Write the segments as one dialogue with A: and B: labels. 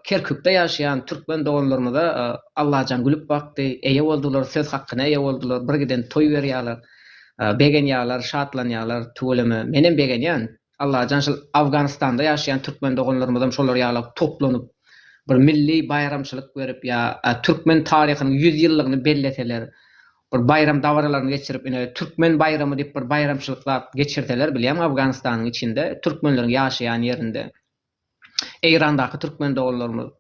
A: Kerkükde ýaşaýan türkmen doganlarymyza Allajan gülüp bakdy, eýe boldular, söz hakyna eýe boldular, bir giden toý berýärler, begenýärler, şatlanýarlar, tüweleme, menem begenýän. Allajan şol Afganystanda ýaşaýan türkmen doganlarymyzam şolar ýala toplanyp, bir milli baýramçylyk berip ýa türkmen taryhynyň ýüz ýyllygyny belleseler, bir baýram dabaralaryny geçirip, ine, türkmen baýramy diýip bir baýramçylyk zat geçirseler, bilýäňmi, Afganystanyň içinde, türkmenleriň ýaşaýan ýerinde. Eýrandaky türkmen doganlarymyz.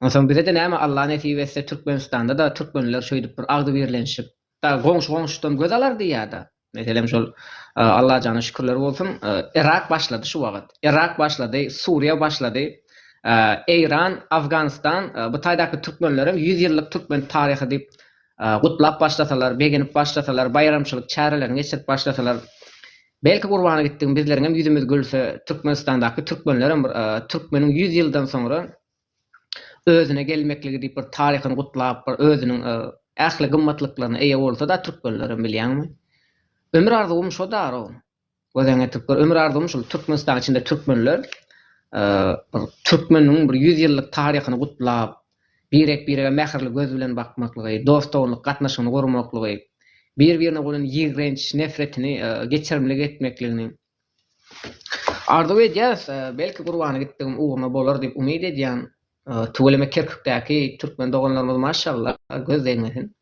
A: Onsoň bize-de näme Alla nesip etse Türkmenistanda-da türkmenler şeýdip bir agzybirlenişip da goňşy goňşudan göz alar diýýä-de. Meselem şol Allajana şükürler bolsun Yrak başlady şu wagyt. Yrak başlady, Suriýa başlady. Eýran, Afganistan bu taýdaky türkmenlerem ýüz ýyllyk türkmen taryhy diýip gutlap başlasalar, begenip başlasalar, baýramçylyk çärelerini geçirip başlasalar Belki gurbana gitdigim bizleriňem ýüzümiz gülse Türkmenistandaky türkmenlerem bir türkmeniň ýüz ýyldan soňra özüne gelmekligi diýip bir taryhyny gutlap bir özüniň ähli gymmatlyklaryna eýe bolsada türkmenlerem bilýäňmi ömür arzuwym şo daro gözäň getirip gör ömür arzuwym şul Türkmenistanyň içinde türkmenler bir türkmeniň bir ýüz ýyllyk taryhyny gutlap birek-birege mähirli göz bilen bakmaklygy, dost-doganlyk gatnaşygyny gurmaklygy, bir-birine bolan ýigrenç nefretini geçirimlik etmekligini arzuw edýäris. Belki gurbana gitdigim ugruna bolar diýip umyt edýän tüweleme Kerkükdäki türkmen doganlarymyz maşallah göz degmesin.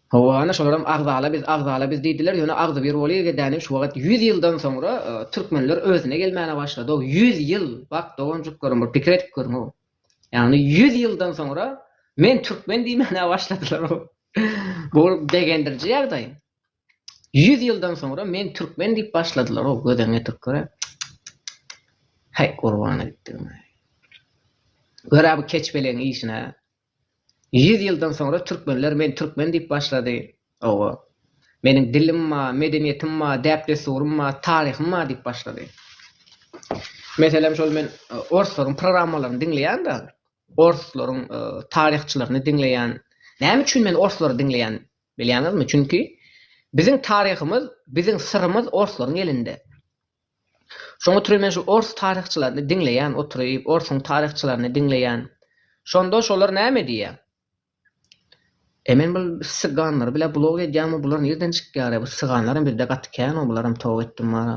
A: Hawa, ana şolaram agzala biz, agzala biz diýdiler, ýöne agzybir bolygedänim şu wagt ýüz ýyldan soňra türkmenler özüne gelmäne başlady-ow, ýüz ýyl, bak doganjyklarym bir pikir edip görüň-ow. Ýagny ýüz ýyldan soňra men türkmen diýmäne başladylar. Bu begendiriji ýagdaý. Ýüz ýyldan soňra men türkmen diýip başladylar o göz öňe türkler. Heý gurbana gitdim. Görä bu keçbeleň işine. Ýüz ýyldan soňra türkmenler men türkmen diýip başlady. Hawa. Meniň dilim bar, medeniýetim bar, däp-dessurym bar, taryhym bar diýip başlady. Meselem, şol men orslaryň programmalaryny diňleýän-de, orslaryň taryhçylaryny diňleýän. Näme üçin men orslary diňleýän bilýäňizmi? Çünki biziň taryhymyz, biziň syrymyz orslaryň elinde. Şoň üçin men şu ors taryhçylaryny diňleýän oturyp, orsuň taryhçylaryny diňleýän. Şonda şolar näme diýýär? E men bul syganlary bile blok edýämi bular nirden çykýara bu syganlaram bizde gaty känoo bularam toba etdim bara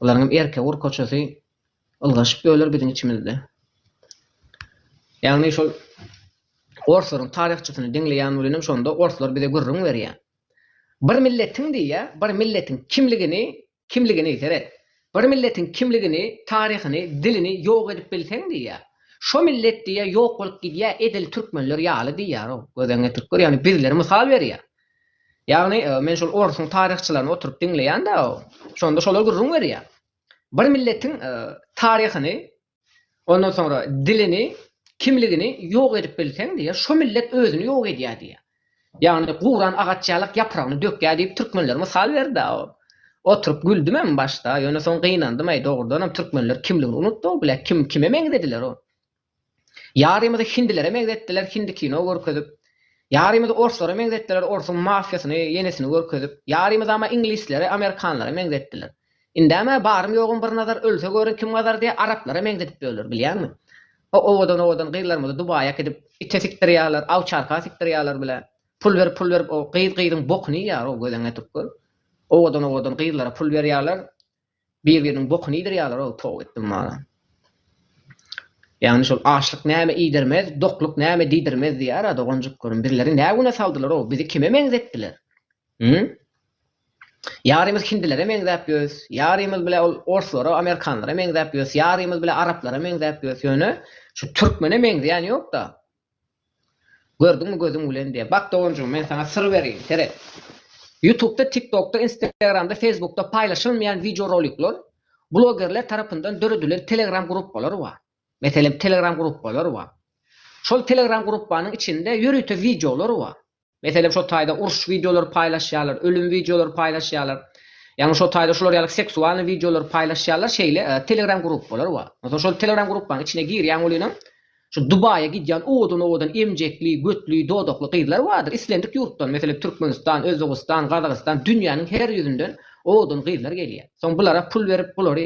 A: bularyňam erke ur koçasy ylgaşyp öler biziň içimizde ýagny şol orslaryň taryhçysyny diňleýän bilenem şonda orslar bize gürrüň berýä bir milletiň diýýä bir milletiň kimligini Kimligini, seret! Bir milletiň kimligini, taryhyny, dilini ýok edip bilseň diýýär. Şo millet diýýär ýok bolup gidýär, edil türkmenler ýaly diýýär-ow. Gözeň getirip gör, ýagny bizleri mysal berýär. Ýagny men şol orsuň taryhçylaryny oturyp diňleýän-dä, şonda şolar gürrüň berýär. Bir milletiň taryhyny, Ondan soňra dilini, kimligini ýok edip bilseň diýýär, şo millet özüni ýok edýär diýýär. Ýagny guran agaç ýalak ýapragyny dökýär diýip türkmenler mysal berdi-ä. Oturyp güldüm hem başda, ýöne soň gynandym, äý dogrudanam türkmenler kimligini unutdy-ow, bilä kim kime meňzediler o. Ýarymyzy hindilere meňzetdiler, hindi kino görkezip. Ýarymyzy orslara meňzetdiler, orsuň mafiýasyny, ýenisini görkezip. Ýarymyzama iňlislere, amerikanlara meňzetdiler. Indem-ä barym-ýogum bir nazar ölse görün kim gazar diýe araplara meňzedip ýörler, bilýäňmi? O owadan-owadan gyzlarymyzy Dubaýa äkidip ite sikdirýärler, awçarka sikdirýärler bile. Pul berip, pul berip o gyz gyzyň bokuny iýýär-ow gözüňe ätip gör. Owadan-owadan gyzlara pul berýärler, bir-biriniň bokuny iýdirýärler-ow, toba etdim wara. Ýagny şol açlyk näme iýdirmez, dokluk näme diýdirmez diýýär-ä doganjyklarym. Bizleri nä güne saldylar-ow, bizi kime meňzetdiler? Hü? Ýarymyz hindilere meňzäp ýörüs, ýarymyz bile ol orslara, amerikanlara meňzäp ýörüs, ýarymyz bile araplara meňzäp ýörüs, ýöne şu türkmene meňzeýän ýok-da. Gördüňmi gözüň bilen diýýä. Bak doganjygym, men saňa syr bereýin, seret. Ýutubda, TikTokda, Instagramda, Facebookda paýlaşylmaýan wideorolikler, blogerler tarapyndan döredilen Telegram gruppalar bar. Meselem, Telegram gruppalar bar. Şol Telegram gruppanyň içinde ýörite wideolar bar. Meselem şo taýda uruş wideolary paýlaşýarlar, ölüm wideolary paýlaşýarlar. Ýagny şo taýda şular ýaly seksualnyý wideolary paýlaşýarlar, şeýle telegram gruppalar bar. Onsoň şol telegram gruppanyň içine girýäň welinem şu Dubaýa gidýän owadan-owadan emjekli, götli, dodakly gyzlar bardyr. Islendik ýurtdan, meselem Türkmenistan, Özbegistan, Gazagystan, dünýäniň her ýüzünden owadan gyzlar gelýär. Soň bulara pul berip, bulary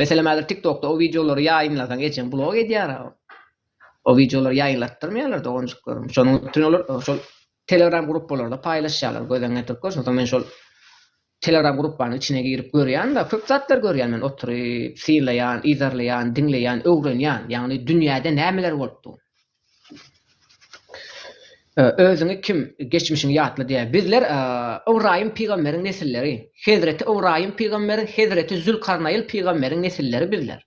A: Meselem häzir tiktokda o wideolary ýaýynlasaň ejeň blok edýär a. O wideolary ýaýynlatdyrmaýarlar doganjyklarym. Şonuň üçin olar şol telegram gruppalarda paýlaşýarlar gözüň ýetirip gör. Şonsoň men şol telegram gruppanyň içine girip görýän-de, köp zatlar görýän men oturyp, synlaýan, yzarlaýan, diňleýän, öwrenýän. Ýagny dünýäde nämeler bolupdyr. Özüňi kim, geçmişiňi ýatla diýýär. Bizler Ybraýym pygamberiň nesilleri. Hezreti Ybraýym pygamberiň, hezreti Zülkarnaýyl pygamberiň nesilleri bizler.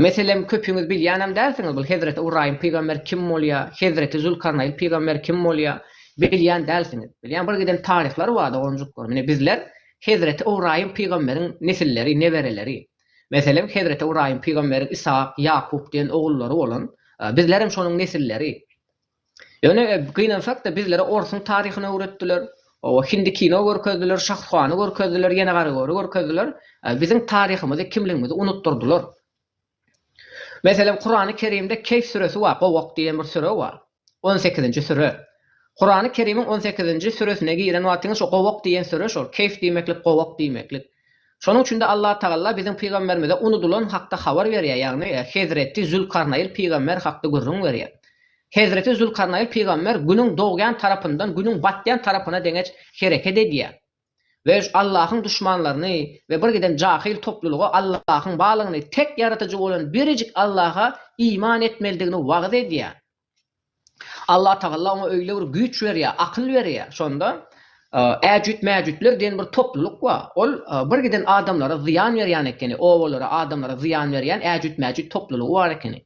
A: Meselem, köpüňiz bilýänem dälsiňiz, bul hezreti Ybraýym pygamber kim bolýar, hezreti Zülkarnaýyl pygamber kim bolýar, bilýän dälsiňiz. Bilýän bir giden taryhlar bar, doganjyklar. Mine bizler hezreti Ybraýym pygamberiň nesilleri, nebereleri. Meselem, hezreti Ybraýym pygamberiň Yshak, Ýakup diýen ogullary bolan. Bizlerem şonuň nesilleri. Ýöne gynansak-da, bizlere orsuň taryhyny öwretdiler, hindi kino görkezdiler, şahruhany görkezdiler, ýene garygöri görkezdiler, biziň taryhymyzy, kimligimizi unutdyrdylar. Meselem, Kurany Kerimde Keýf süresi bar, Gowak diýen bir süre bar. On sekizinji süre. Kurany Kerimiň on sekizinji süresine giren wagtyňyz şu gowak diýen süre şol. Keýf diýmeklik gowak diýmeklik. Şonuň üçin-de Allatagalla biziň pygamberimize unudylan hakda habar berýär, ýagny Hezreti Zülkarnaýyl pygamber hakda gürrüň berýär. Hezreti Zülkarnaýyl pygamber günüň dogýan tarapyndan günüň batýan tarapyna deňeç hereket edýär. we Allahyň duşmanlaryny we bir giden jahyl toplulyga Allahyň barlygyny, tek Ýaratyjy bolan birjik Allaha iman etmelidigini wagyz edýär. Allatagalla oňa öýle bir güýç berýär, akyl berýär. Şonda Äjüt-Mäjütler diýen bir toplulyk bar. Ol bir giden adamlara zyýan berýän ekeni, obalara, adamlara zyýan berýän Äjüt-Mäjüt toplulygy bar ekeni.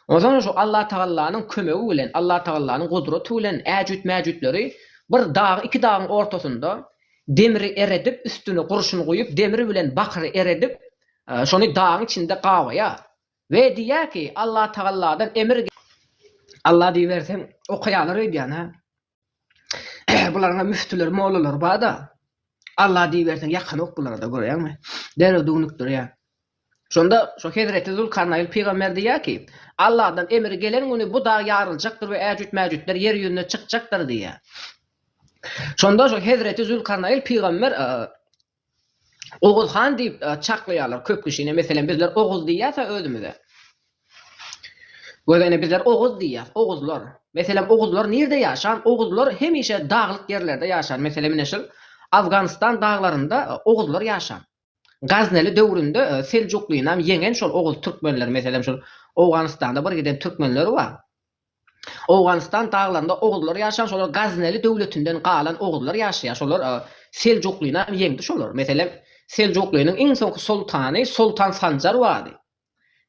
A: Onsoňam şu Allatagallanyň kömegi bilen, Allatagallanyň gudraty bilen äjüt-mäjütleri bir dag, iki dagyň ortasynda demri eredip, üstüne gurşun guýup, demir bilen bakyry eredip, şony dagyň içinde gabaýar we diýýär ki, Allatagalladan emir geldi. Alla diýiberse, okaýarlar öýdýän-ä. Bularyň-a müftüleri, mollalary bar-da. Alla diýiberseň, ýakanok bulara-da, görýäňmi? Derrew düwnükdirýär. Şonda şu hezreti Zülkarnaýn pygamber diýýär ki, Alladan emir gelen güni bu dag ýaryljakdyr we äjüt-mäjütler ýer ýüzüne çykjakdyr diýýär. Şonda şu hezreti Zülkarnaýn pygamber Oguz han diýip çaklaýarlar köp kişini. Meselem, bizler Oguz diýýäs-ä özümize. Göz ene bizler Oguz diýýäs, Oguzlar. Meselem, Oguzlar nirde ýaşan? Oguzlar hemişe daglyk ýerlerde ýaşan. Meselem, ine şul Afganystan daglarynda Oguzlar ýaşan. Gazneli döwründe Seljuklyny hem ýeňen şol Oguz türkmenleri. Meselem, şol Owganystanda bir giden türkmenleri bar. Owganystan daglarynda oguzlar ýaşan şolar Gazneli döwletinden galan oguzlar ýaşaýar şolar Seljuklinam ýeňdi şolar meselem Seljukliniň iň soňky soltany Soltan Sanjar bardy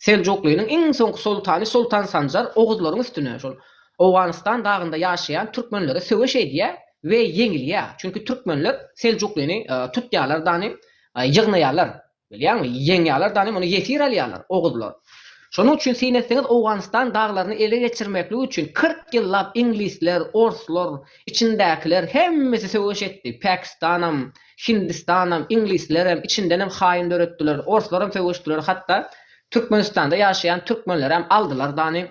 A: Seljukliniň iň soňky soltany Soltan Sanjar oguzlaryň üstüne şol Owganystan dagynda ýaşaýan türkmenlere söweş edýär we ýeňilýär çünki türkmenler Seljuklini tutýarlar dany ýygnaýarlar Bilýäňmi, ýeňýärler dany, muny ýesir alýarlar, oguzlar. Şonuň üçin syn etseňiz, Owganystan daglaryny ele geçirmeklik üçin kyrk ýyllap iňlisler, orslar, içindäkiler hemmesi söweş etdi. Päkistanam, Hindistanam, iňlislerem, içindenem haýyn döretdiler, orslaram söweşdiler, hatda Türkmenistanda ýaşaýan türkmenlerem aldylar dany.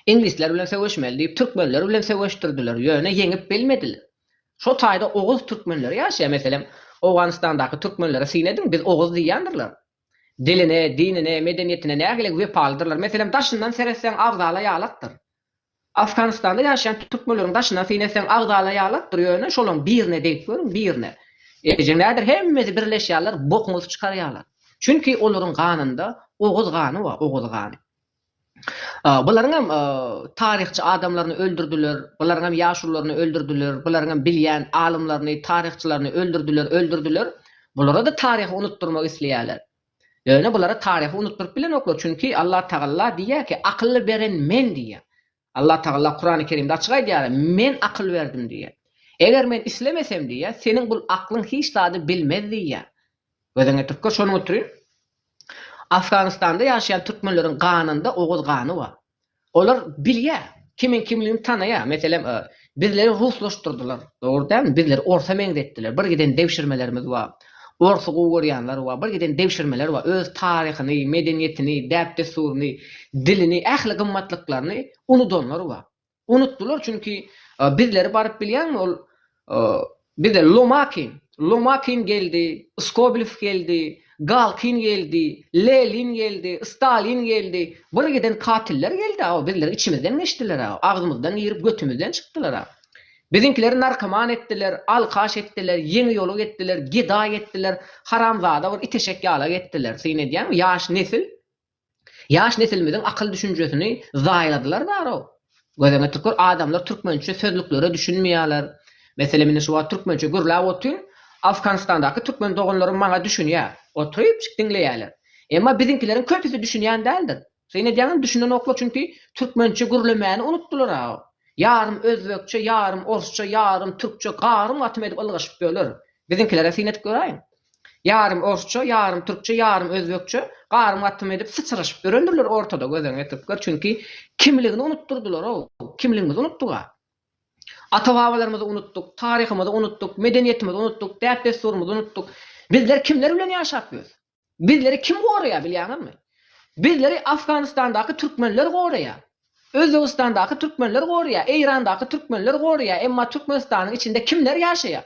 A: Iňlisler bilen söweşmeli diýip türkmenler bilen söweşdirdiler, ýöne ýeňip bilmediler. Şo taýda oguz türkmenleri ýaşaýar, meselem, Owganystandaky türkmenlere syn ediň, biz oguz diýýändirler. Diline, dinine, medeniýetine nägileg wepalydyrlar. Meselem, daşyndan seretseň agzala ýalakdyr. Afganystanda ýaşaýan türkmenleriň daşyndan syn etseň agzala ýalakdyr, ýöne şolaň birine degip görüň, birine. Ejeň näder, hemmesi birleşýärler, bokuňyzy çykarýarlar. Çünki olaryň ganynda oguz gany bar, oguz gany. Bularyňam taryhçy adamlaryny öldürdiler, bularyňam ýaşulularyny öldürdiler, bularyňam bilýän alymlaryny, taryhçylaryny öldürdiler, öldürdiler. Bulara-da taryhy unutdyrmak isleýärler. Ýöne bulara taryhy unutdyryp bilenoklar, çünki Allatagalla diýýär ki, Akyly beren Men diýýär. Allah Tagala Kurany Kerimde açyk aýdýar, Men akyl berdim diýýär. Eger Men islemesem diýýär, seniň bul aklyň hiç zady bilmez diýýär. Gözüň ýetirip gör, şonuň üçin Afganistanda ýaşaýan türkmenleriň ganynda oguz gany bar. Olar bilýär, kimiň kimligini tanaýar. Meselem, Bizleri ruslaşdyrdylar. Dogry dälmi? Bizleri orsa meňzetdiler. Bir giden degşirmelerimiz bar. Orsy gowy görýänler bar. Bir giden degşirmeler bar. Öz taryhyny, medeniýetini, däp-dessuryny, dilini, ähli gymmatlyklaryny unudanlar bar. Unutdylar çünki bizleri baryp bilýäňmi ol Bize Lomakin, Lomakin geldi, Skobelew geldi, Galkin geldi, Lenin geldi, Stalin geldi, bir giden katiller geldi-ä, bizleri içimizden geçdiler-ä, agzymyzdan girip götümizden çykdylar-ä. Biziňkileri narkoman etdiler, alkaş etdiler, ýeňi ýoluk etdiler, gedaý etdiler, haramzada bir iteşek ýalak etdiler. Syn edýäňmi, ýaş nesil? Ýaş nesilimiziň akyl düşünjesini zaýaladylar barow. Gözeňe tükür adamlar türkmençe sözlüklere düşünmeýäler. Meselem indi şu wagt türkmençe gürläp otyryn, Afganistandaky türkmen doganlarym maňa düşünýä. Oturypjyk diňleýäler. Emma biziňkileriň köpüsi düşünýän däldir. Syn edýäňem düşünenoklar çünki türkmençe gürlemäni unutdylaraw. Ýarym özbekçe, ýarym orsça, ýarym türkçe garym-gatym edip ylgaşyp ýörler. Biziňkilere syn edip göräýiň. Ýarym orsça, ýarym türkçe, ýarym özbekçe garym gatym edip syçraşyp ýörendirler ortada gözeňňe türkler çünki kimligini unutdyrdylar-ow, kimligimizi unutdyk-a. Ata-babalarymyzy unutdyk, taryhymyzy unutdyk, medeniýetimizi unutdyk, däp-dessurymyzy unutdyk. Bizler kimler bilen ýaşap ýörüs? Bizleri kim goraýar bilýäňizmi? Bizleri Afganistandaky türkmenler goraýar. Özbegistandaky türkmenler goraýar, Eýrandaky türkmenler goraýar, emma Türkmenistanyň içinde kimler ýaşaýar?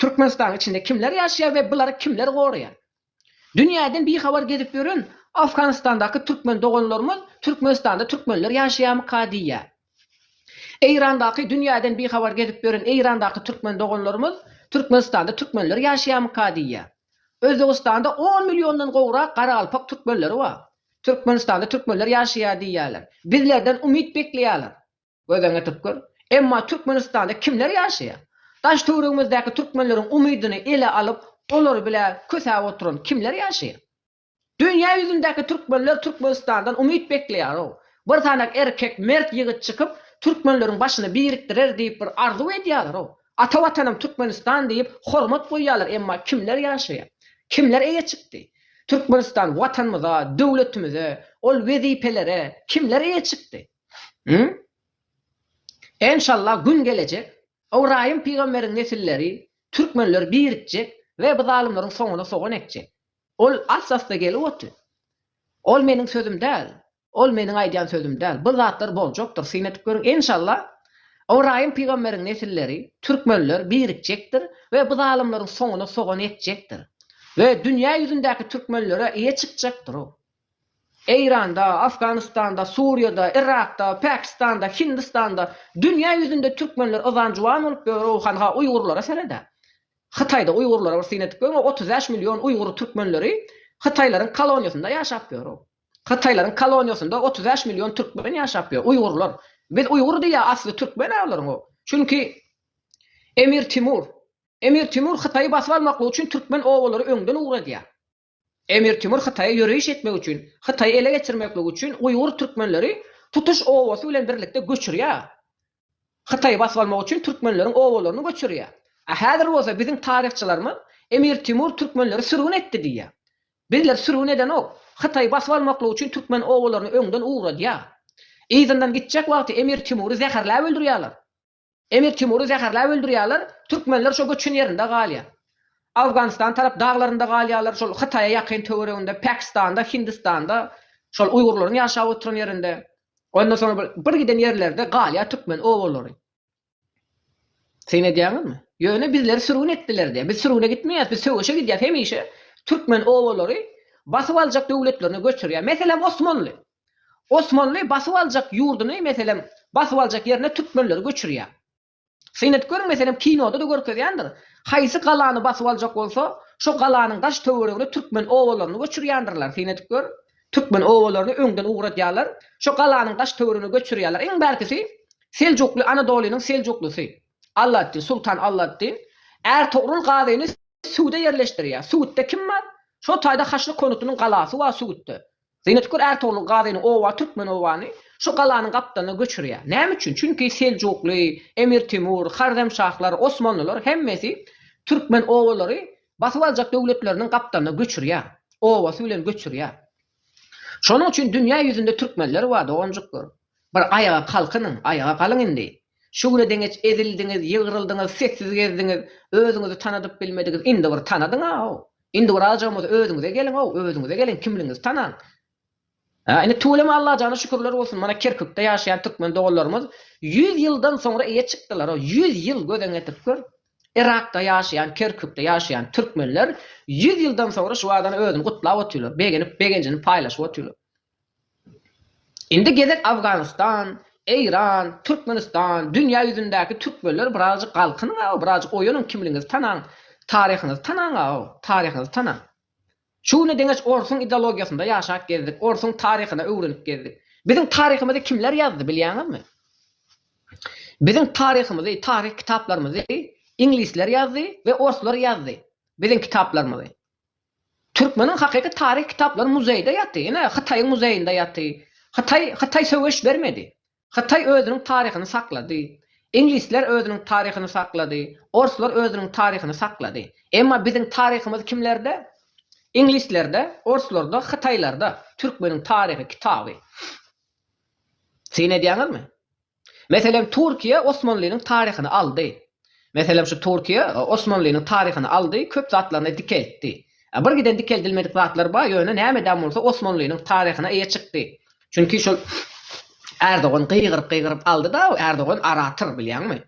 A: Türkmenistanyň içinde kimler ýaşaýar we bulary kimler goraýar? Dünýäden bihabar gezip ýören Afganistandaky türkmen doganlarymyz Türkmenistanda türkmenler ýaşaýarmyka diýýär. Eýrandaky Dünýäden bihabar gezip ýören Eýrandaky türkmen doganlarymyz Türkmenistanda türkmenler ýaşaýarmyka diýýär. Özbegistanda on milliondan gowrak garagalpak türkmenleri bar. Türkmenistanda türkmenler ýaşaýar diýýärler. Bizlerden umyt bekleýärler. Göz öňüne tutup gör. Emma Türkmenistanda kimler ýaşaýar? Daş-töwregimizdäki türkmenleriň umydyny ele alyp, olar bile kösäp oturan kimler ýaşaýar? Dünýä ýüzündäki türkmenler Türkmenistandan umyt bekleýär-ow. Bir sanak erkek, mert ýigit çykyp, türkmenleriň başyny birikdirer diýip bir arzuw edýärler-ow. Ata Watanym Türkmenistan diýip, hormat goýýarlar, emma kimler ýaşaýar? Kimler eýe çykdy? Türkmenistan Watanymyza, döwletimize, ol wezipelere kimler eýe çykdy? Hü? Enşalla gün gelejek, Ybraýym pygamberiň nesilleri, türkmenler birikjek we bu zalymlaryň soňuna sogan ekjek. Ol ast-asta gelip oty. Ol meniň sözüm däl. Ol meniň aýdýan sözüm däl. Bu zatlar boljakdyr. Syn edip görüň, enşalla, Ybraýym pygamberiň nesilleri, türkmenler birikjekdir we bu zalymlaryň soňuna sogan ekjekdir. We dünýä ýüzündäki türkmenlere eýe çykjakdyr o. Eýranda, Afganystanda, Suriýada, Yrakda, Pakistanda, Hindistanda, dünýä ýüzünde türkmenler yzan juwan bolup ýörüw han ha uýgurlara seredä. Hytaýda uýgurlara bir syn edip görüň otuz bäş million uýgur türkmenleri hytaýlaryň koloniýasynda ýaşap ýörüw. Hytaýlaryň koloniýasynda otuz bäş million türkmen ýaşap ýör, uýgurlar. Biz uýgur diýýä asly türkmen-ä olaryň o. Çünki Emir Timur. Emir Timur Hytaýy basyp almaklyk üçin türkmen obalary öňden ugradýar. Emir Timur Hytaýa ýöreýiş etmek üçin, Hytaýy ele geçirmeklik üçin uýgur türkmenleri tutuş obasy bilen birlikde göçürýär. Hytaýy basyp almak üçin türkmenleriň obalaryny göçürýär. A häzir bolsa biziň taryhçylarymyz Emir Timur türkmenleri sürgün etdi diýýär. Bizleri sürgün edenok. Hytaýy basyp almaklyk üçin türkmen obalaryny öňden ugradýar. Yzyndan gitjek wagty Emir Timury zäherläp öldürýärler. Emir Timury zäherläp öldürýärler, türkmenler şo göçen ýerinde galýar. Awganystan tarap daglarynda galýarlar, şol Hytaýa ýakyn töwereginde, Pakistanda, Hindistanda, şol uýgurlaryň ýaşap oturan ýerinde. Ondan soň bir, bir giden ýerlerde galýar türkmen obalary. Syn edýäňizmi? Ýöne bizleri sürgün etdiler diýýär. Biz sürgüne gitmeýäs, biz söweşe gidýäs hemişe. Türkmen obalary basyp aljak döwletlerine göçürýär. Meselem, Osmanly. Osmanly basyp aljak ýurduny meselem basyp aljak ýerine türkmenleri göçürýär. Syn edip görüň meselem kinoda-da görkezýändir. Haýsy galany basyp aljak bolsa şo galanyň daş töweregine türkmen obalaryny göçürýändirler. Syn edip gör. Türkmen obalaryny öňden ugradýarlar. Şo galanyň daş töweregine göçürýärler. Iň bärkisi Seljukly Anadolynyň Seljuklysy. Alladdin, Sultan Alladdin Ärtogrul Gazyny Sugutda ýerleşdirýär. Sugutda kim bar? Şo taýda Haçly Konutynyň galasy bar Sugutda. Zeýnetgül Ärtogluň gazyny oba Türkmenobany şu galanyň gapdalyna göçürýär. Näme üçin? Çünki Seljukly, Emir Temur, Harremşahlar, Osmanlylar hemmesi türkmen obalary basyp aljak döwletleriniň gapdalyna göçürýär. Obasy bilen göçürýär. Şonuň üçin dünýä ýüzünde türkmenler bar, doganjyklar. Bir aýaga kalkynyň, aýaga galyň indi! Şu güne deňeç ezildiňiz, ýygryldyňyz, sessiz gezdiňiz, özüňizi tanadyp bilmediňiz, indi bir tanadyň-aw! Indi bir azajygam bolsa özüňize geliň-ow, özüňize geliň, kimligiňizi tanaň! Hä, indi tüweleme Allajana şükürler bolsun, mana Kerkükde ýaşaýan türkmen doganlarymyz ýüz ýyldan soňra eýe çykdylar-ow, ýüz ýyl gözüňe getirip gör! Yrakda ýaşaýan, Kerkükde ýaşaýan türkmenler ýüz ýyldan soňra şu adany özüni gutlap otyrlar, begenip, begenjini paýlaşyp otyrlar. Indi gezek Afganystan, Eýran, Türkmenistan, dünýä ýüzündäki türkmenler birazjyk galkynyň aw, birazjyk oýanyň kimligiňizi tanaň, taryhyňyzy tanaň aw, taryhyňyzy tanaň. Şu güne deňeç orsuň ideologiýasynda ýaşap gezdik, orsuň taryhyny öwrenip gezdik. Biziň taryhymyzy kimler ýazdy bilýäňizmi? Biziň taryhymyzy, taryh kitaplarymyzy iňlisler ýazdy we orslar ýazdy biziň kitaplarymyzy. Türkmeniň hakyky taryh kitaplary muzeýde ýaty, ine Hytaýyň muzeýinde ýaty. Hytaý Hytaý söweş bermedi. Hytaý özüniň taryhyny saklady. Iňlisler özüniň taryhyny saklady. Orslar özüniň taryhyny saklady. Emma biziň taryhymyz kimlerde? Iňlislerde, orslarda, hytaýlarda. Türkmeniň taryhy kitaby. Syn edýäňizmi? Meselem Turkiýe Osmanlynyň taryhyny aldy. Meselem şu Turkiýe Osmanlynyň taryhyny aldy, köp zatlaryny dikeltdi. Bir giden dikeldilmedik zatlar bar, ýöne nämedän bolsa Osmanlynyň taryhyna eýe çykdy. Çünki şol Erdogan gygyryp-gygyryp aldy-da, Erdogan orator bilýäňmi?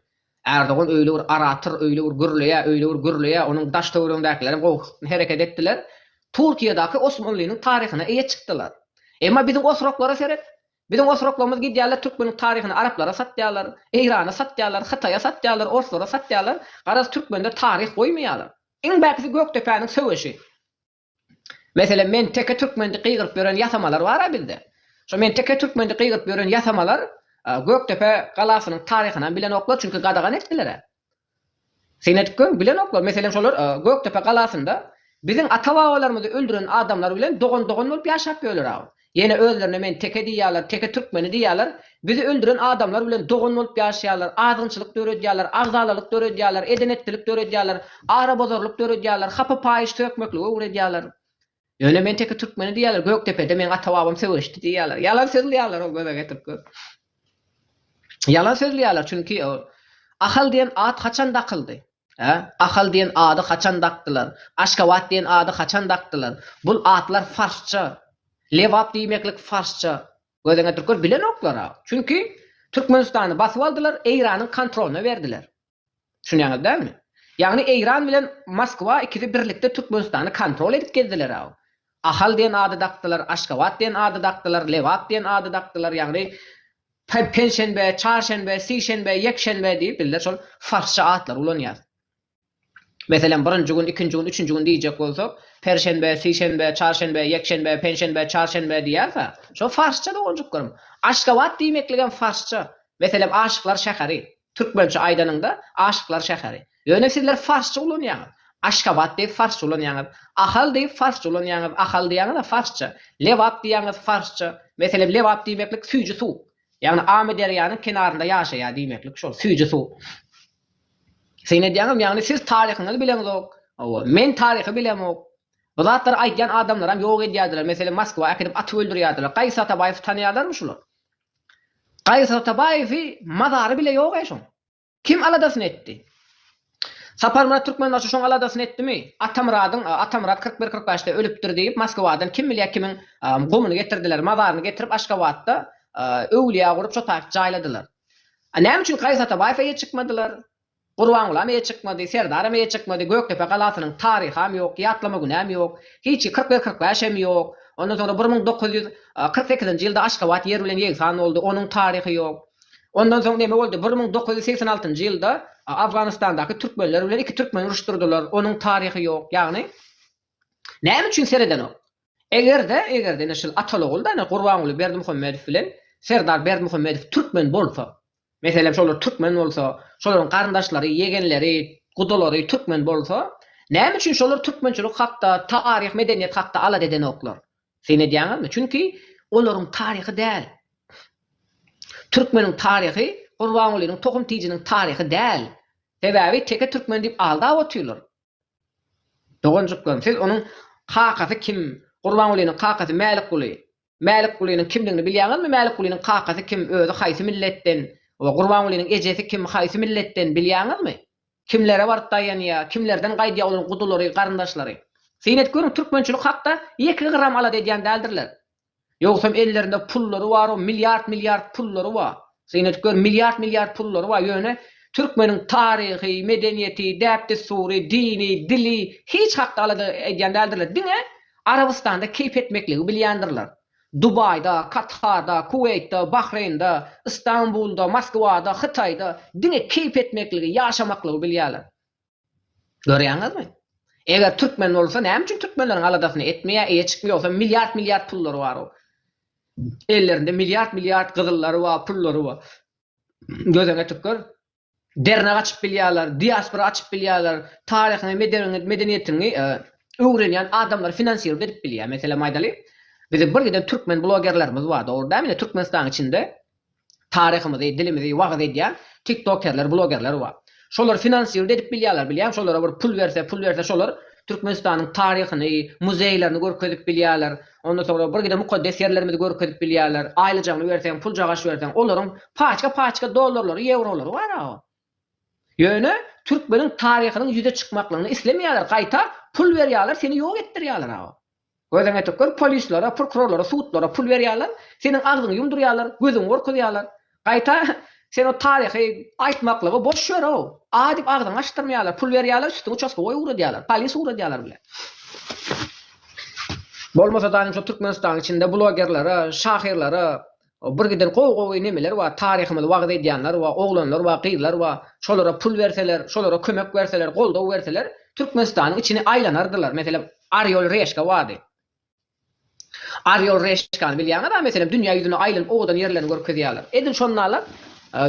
A: Erdogan öýle bir orator, öýle bir gürleýär, öýle bir gürleýär, onuň daş-töweregindäkilerem gowy hereket etdiler. Turkiýedäki Osmanlynyň taryhyna eýe çykdylar. Emma biziň oturaklara seret. Biziň oturaklarymyz gidýärler türkmenlik taryhyny araplara satýarlar, Eýrana satýarlar, Hytaýa satýarlar, orslara satýarlar, garaz türkmenler taryh goýmaýarlar. Iň bärkisi Gökdepäniň söweşi. Meselem men teke türkmendi gygyryp ýören ýasamalar bara bizde. Şo men teke türkmendi gygyryp ýören ýasamalar Gökdepe galasynyň taryhynam bilenoklar çünki gadagan etdilerä. Senet göm bilenoklar, meselem şolar Gökdepe galasynda biziň ata-babalarymyzy öldüren adamlar bilen dogan-dogan bolup ýaşap ýörler agam. Ýene özlerine men teke diýýärler, teke türkmeni diýýärler, bizi öldüren adamlar bilen dogan bolup ýaşaýarlar, azgynçylyk döredýärler, agzalalyk döredýärler, eden-etdilik döredýärler, arabozarlyk döredýärler, hapa-paýyş sökmeklige ugredýärler. Ýöne men teke türkmeni diýýärler, Gökdepede meň ata-babam söweşdi diýýärler. Ýalan sözleýärler ol göze getirip gör. Ýalan sözleýärler, çünki ol Ahal diýen at haçan dakyldy? Hä? Ahal diýen ady haçan dakdylar? Aşgabat diýen ady haçan dakdylar? Bul atlar farsça. Lebap diýmeklik farsça. Göze getirip gör, bilenoklar-a. Çünki Türkmenistany basyp aldylar, Eýranyň kontrolyna berdiler. Düşünýäňiz dälmi? Ýagny Eýran bilen Moskwa ikisi birlikde Türkmenistany kontrol edip gezdiler-aw. Ahal diýen ady dakdylar, Aşgabat diýen ady dakdylar, Lebap diýen ady dakdylar, ýagny Penşenbe, Çarşenbe, Sişenbe, Ýekşenbe diýip bizler şol farsça atlary ulanýarys. Meselem, birinji gün, ikinji gün, üçünji gün diýjek bolsak, Perşenbe, Sişenbe, Çarşenbe, Ýekşenbe, Penşenbe, Çarşenbe diýýäris-ä. Şo farsça doganjyklarym. Aşgabat diýmekligem farsça. Meselem, Aşyklar şäheri. Türkmençe aýdanyňda Aşyklar şäheri. Ýöne sizler farsça ulanýaňyz. Aşgabat diýip farsça ulanýaňyz. Ahal diýip farsça ulanýaňyz. Ahal diýýäňiz-ä farsça. Lebap diýýäňiz farsça. Meselem lebap diýmeklik süýji suw. Ýagny Amyderýanyň kenarynda ýaşaýar diýmeklik şol. Süýji suw. Syn edýäňizmi? Ýagny siz taryhyňyzy bileňzok. Hawa. Men taryhy bilemok. Bu zatlary aýdýan adamlaram ýok edýärdiler. Meselem Moskwa äkidip atyp öldürýärdiler. Gaýsy Atabaýewi tanaýarlarmy şular? Gaýyt Atabaýewi mazary bile ýog-eý şoň. Kim aladasyny etdi? Saparmyrat Türkmenbaşy şoň aladasyny etdimi? Atamyradyň, Atamyrat kyrk bir, kyrk bäşde ölüpdir diýip Moskwadan kim bilýä kimiň gumuny getirdiler, mazaryny getirip Aşgabatda öwlýä gurup çotaýyp jaýladylar. Näme üçin Gaýyt Atabaýewe ýetişikmediler? Gurbangulam eýe çykmady, Serdaram eýe çykmady, Gökdepe galasynyň taryham ýok, ýatlama günäm ýok, hiç ki kyrk bir kyrk bäş hem ýok. Ondan soňra bir müň dokuz ýüz kyrk sekizinji ýylda Aşgabat ýer bilen ýegsan boldy, onuň taryhy ýok. Ondan soň neme boldy, bir müň dokuz ýüz segsen altynjy ýylda Afganistandaky türkmenler bilen iki türkmeni uruşdyrdylar, onuň taryhy ýok. Ýagny näme üçin seredenok? Eger-de, eger-de ine şul Atalyogulda ine Gurbanguly Berdimuhamedow bilen Serdar Berdimuhamedow türkmen bolsa, meselem şolar türkmen bolsa, şolaryň garyndaşlary, ýegenleri, gudalary türkmen bolsa, näme üçin şolar türkmençilik hakda, taryh, medeniýet hakda alada edenoklar? Syn edýäňizmi? Çünki olaryň taryhy däl. Türkmeniň taryhy Gurbangulynyň tohum-tijiniň taryhy däl. Sebäbi teke türkmen diýip aldap otyrlar. Doganjyklarym, siz onuň kakasy kim, Gurbangulynyň kakasy Mälikguly, Mälikgulynyň kimdigini bilýäňizmi, Mälikgulynyň kakasy kim, özi haýsy milletden we Gurbangulynyň ejesi kim, haýsy milletden bilýäňizmi? Kimlere baryp daýanýar, kimlerden gaýdýar olaryň gudulary, garyndaşlary? Syn edip görüň, türkmençilik hakda ýeke gram alada edýän däldirler. Ýogsam ellerinde pullary bar o milliard milliard pullary bar. Syn edip gör milliard milliard pullary bar ýöne türkmeniň taryhy, medeniýeti, däp-dessury, dini, dili hiç hakda alada edýän däldirler. Diňe Arabystanda keýp etmekligi bilýändirler. Dubaýda, Katarda, Kuweýtde, Bahreýnde, Istanbulda, Moskwada, Hytaýda diňe keýp etmekligi, ýaşamaklygy bilýärler. Görýäňizmi? Eger türkmen bolsa näme üçin türkmenleriň aladasyny etmeýär, eýe çykmy ýogsa milliard milliard pullary bar o. Ellerinde milliard milliard gyzyllary bar, pullary bar. Gözeňe tükür. Dernek açyp bilýärler, diaspora açyp bilýärler, taryhyňy, medeniýetiňi öwrenýän adamlary finansirow edip bilýär. Meselem aýdalyň, biziň birgiden türkmen blogerlerimiz bar, dogry dämi? Ine türkmenistanyň içinde Taryhymyzy, dilimizi wagyz edýän tiktokerler, blogerler bar. Şolary finansiruda edip bilýärler, bilýäňmi, şolara bir pul berse, pul berse şolar Türkmenistanyň taryhyny, muzeýlerini görkezip bilýärler, ondan soňra birgide mukaddes ýerlerimizi görkezip bilýärler, aýlyjagyny berseň, puljagaç berseň, olaryň paçka-paçka dollarlary, ýewrolary bar awa. Ýöne türkmeniň taryhynyň ýüze çykmaklygyny islemeýärler, gaýta pul berýärler, seni ýok etdirýärler awa. Gözüňe tükür, polislere, prokurorlara, sudlara pul berýärler, seniň agzyňy ýumdurýarlar, gözüňi gorkuzýarlar. Gaýta, sen o taryhy aýtmaklygy boş ýör-ow. A diýip agzyňy açdyrmaýarlar, pul berýärler, üstüňi uçastkowoý ugradýarlar, polis ugradýarlar bile. Bolmasa-da, ynha şu Türkmenistanyň içinde blogerlere, şahyrlara, O bir giden gowy gowy nemeler bar taryhymyzy wagyz edýänler bar oglanlar bar gyzlar bar şolara pul berseler şolara kömek berseler goldaw berseler Türkmenistanyň içini aýlanardylar meselem Arýol reşka bardy Arýol reşkany bilýäňiz a meselem dünýä ýüzüne aýlanyp owadan ýerlerini görkezýärler edil şondalar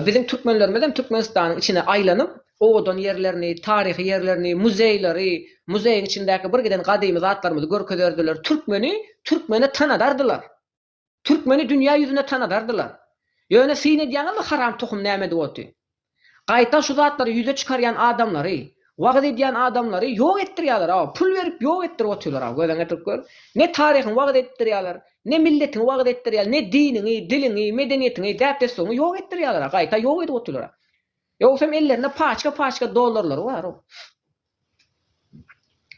A: biziň Türkmenlerimizem Türkmenistanyň içine aýlanyp owadan ýerlerini taryhy ýerlerini muzeýleri muzeýiň içindäki bir giden gadymy zatlarymyzy görkezerdiler Türkmeni Türkmene tanadardylar. Türkmeni dünýä ýüzünde tanadardylar. Ýöne syn edýäňizmi haram tohum nämedi oty. Gaýta şu zatlary ýüze çykarýan adamlary, wagyz edýän adamlary ýok etdirýäler aw, pul berip ýok etdirip otyrlar aw, gözüň ýetirip gör. Ne taryhyňy wagyz etdirýäler, ne milletiňi wagyz etdirýäler, ne diniňi, diliňi, medeniýetiňi, däp dessuňy ýok etdirýäler aw, gaýta ýok edip otyrlar aw. Ýogsam ellerinde paçka paçka dollarlary bar aw.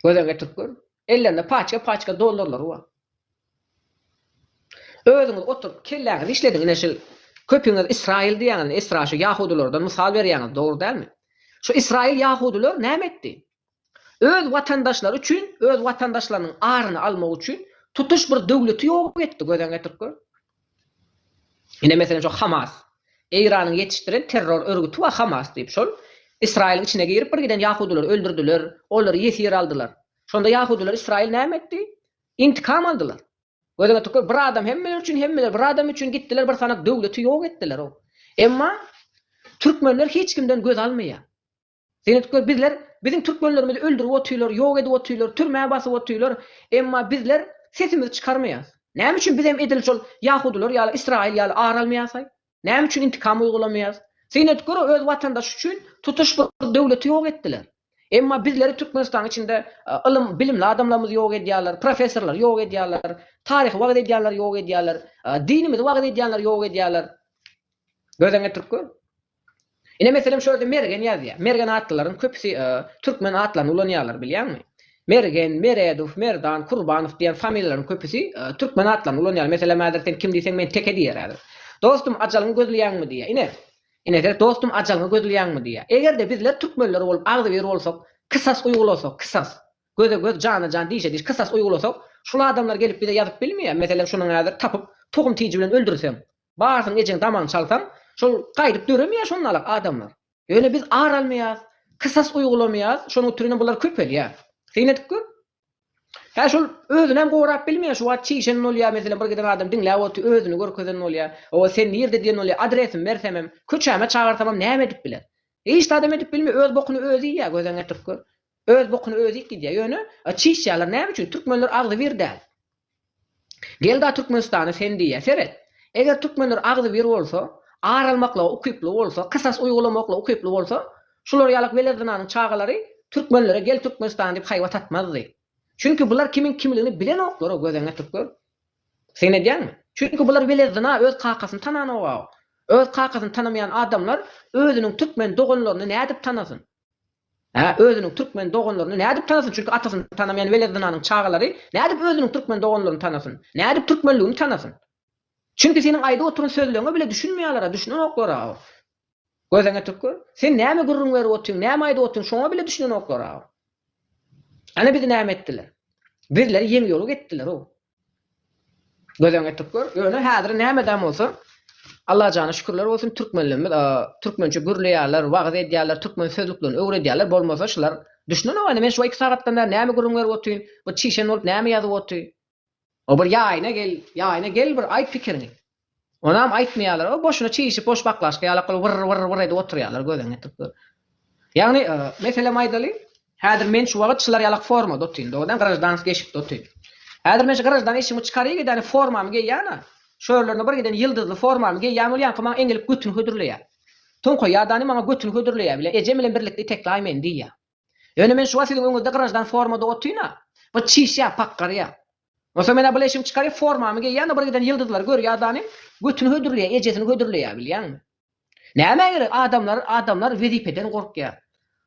A: Gözüň ýetirip gör. Ellerinde paçka-paçka dollarlary bar. Özüňiz oturyp kelläňizi işlediň ine şul köpüňiz Israil diýýäňiz Esra şu ýahudylardan mysal berýäňiz dogry dälmi? Şu Israil ýahudylar näme etdi? Öz watandaşlary üçin öz watandaşlarynyň aryny almak üçin tutuş bir döwleti ýok etdi gözeň getirip gör. Ine, meselem, şo Hamas. Eýranyň ýetişdiren terror örgüti bar Hamas diýip. Şol Ysraýylyň içine girip bir giden ýahudylary öldürdiler, olary ýesir aldylar. Şonda ýahudylar Ysraýyl näme etdi? Intikam aldylar. Gözüňe tükür, bir adam hemmeler üçin, hemmeler bir adam üçin gitdiler bir sanak döwleti ýok etdiler-ow. Emma türkmenler hiç kimden göz almaýar. Seredipler, bizler, biziň türkmenlerimizi öldürip otyrlar, ýok edip otyrlar, türmä basyp otyrlar, emma bizler sesimizi çykarmaýarys. Näme üçin biz hem edil şol ýahudylar ýaly, ysraýyl ýaly ar almaýarys-aý? Näme üçin intikam uýgulamaýarys? Seredip gör, öz watandaşy üçin tutuş bir döwleti ýok etdiler. Emma bizleri Türkmenistanyň içinde ylym, bilimli adamlarymyzy ýok edýärler, professorlary ýok edýärler, taryhy wagyz edýänleri ýok edýärler, dinimizi wagyz edýänleri ýok edýärler. Gözden getirip gör. Ine meselem şu ýerde Mergen ýazýar. Mergen atlylaryň köpüsi türkmen atlaryny ulanýarlar bilýäňmi? Mergen, Meredow, Merdan, Kurbanow diýen familiýalaryň köpüsi türkmen atlaryny ulanýar. Meselem häzir sen kim diýseň men Teke diýer häzir. Dostum ajalyňy gözleýäňmi diýýär. Ine. Ine seret dostum ajalyňy gözleýäňmi diýýär. Egerde bizler türkmenler bolup agzybir bolsak, kysas uýgulasak, kysas. Göze göz, jana jan, dişe diş kysas uýgulasak, şul adamlar gelip bize ýazyp bilmeýär. Meselem şunuň häzir tapyp tohum tiji bilen öldürseň. Barsyň ejeň damagyny çalsaň, şol gaýdyp döremeýär şonalak adamlar. Ýöne biz ar almaýas, kysas uýgulamaýas, şonuň üçinem bular köpelýär. Syn edip gör. Hä şol özünem gorap bilmeýär, şu wagt çişen bolýar, meselem bir giden adam diňläp otyr, özüni görkezen bolýar. Hawa sen nirde diýen bolýar, adresimi bersemem, köçäme çagyrsamam näme edip biler. Hiç zadam edip bilmeýär, öz bokuny özi iýýär, göz öňüne getirip gör. Öz bokuny özi iýip gidýär. Ýöne çişýärler näme üçin? Türkmenler agzybir däl. Gelda Türkmenistana sen diýýä seret. Eger türkmenler agzybir bolsa, ar almaklyga ukyply bolsa, kysas uýgulamaklyga ukyply bolsa, şular ýalak wele zynanyň çagalary türkmenlere gel Türkmenistana diýip haýbat atmazdy. Çünki bular kimiň kimligini bilenoklar-a gözeň getirip gör. Syn edýäňmi? Çünki bular wele zyna öz kakasyny tananok-a. Öz kakasyny tanamaýan adamlar özüniň türkmen doganlaryny nädip tanasyn? Hä, özüniň türkmen doganlaryny nädip tanasyn, çünki atasyny tanamaýan welet zynanyň çagalary nädip özüniň türkmen doganlaryny tanasyn, nädip türkmenligini tanasyn? Çünki seniň aýdyp oturan sözleriňe bile düşünmeýäler-ä, düşünenoklar-a. Gözeňe tük gör. Sen näme gürrüň berip otyň, näme aýdyp otyň, şoňa bile düşünenoklar-a. Ana bizi näme etdiler? Bizleri ýeňiýoglyk etdiler-ow. Gözeň etip gör. Ýöne häzir nämedäm bolsa Allajana şükürler bolsun türkmenlerimiz türkmençe gürleýärler, wagyz edýärler, türkmen sözlüklerini öwredýärler, bolmasa şular düşünenok indi men şu iki sagatdan bäri näme gürrüň berip otyryn, bu çişen bolup näme ýazyp otyr. O bir ýaýyna gel, ýaýyna gel bir aýt pikiriňi. Onam aýtmaýarlar, o boşuna çişip, boş baklažka ýala kylyp wyrr, wyrr, wyrr edip oturýarlar, gözüňi ýetirip gör. Ýagny, meselem aýdaly, häzir men şu wagyt şylar ýalak formada otyryn, dogrydan grajdanskiý eşikde otyryn. Häzir men şu grajdan eşigimi çykaryp gidäni formamy geýýäna, şu örlerine bir giden ýyldyzly formamy geýýän bolýanka maňa eňilip götüni hödürleýär. Toňkaýýadany maňa götüni hödürleýär bile, ejem bilen birlikde itekläý meni diýýär. Ýöne men şu wagt siziň öňüňizde graždan formada otyryn-a. Bir çişýär, pakgarýar. Onsoň men-ä bu leşimi çykaryp, formamy geýýän-de, bir giden ýyldyzlary görýän adamym götüni hödürleýär, ejesini hödürleýär, bilýäňmi? Nämä gerek, adamlar, adamlar wezipeden gorkýar.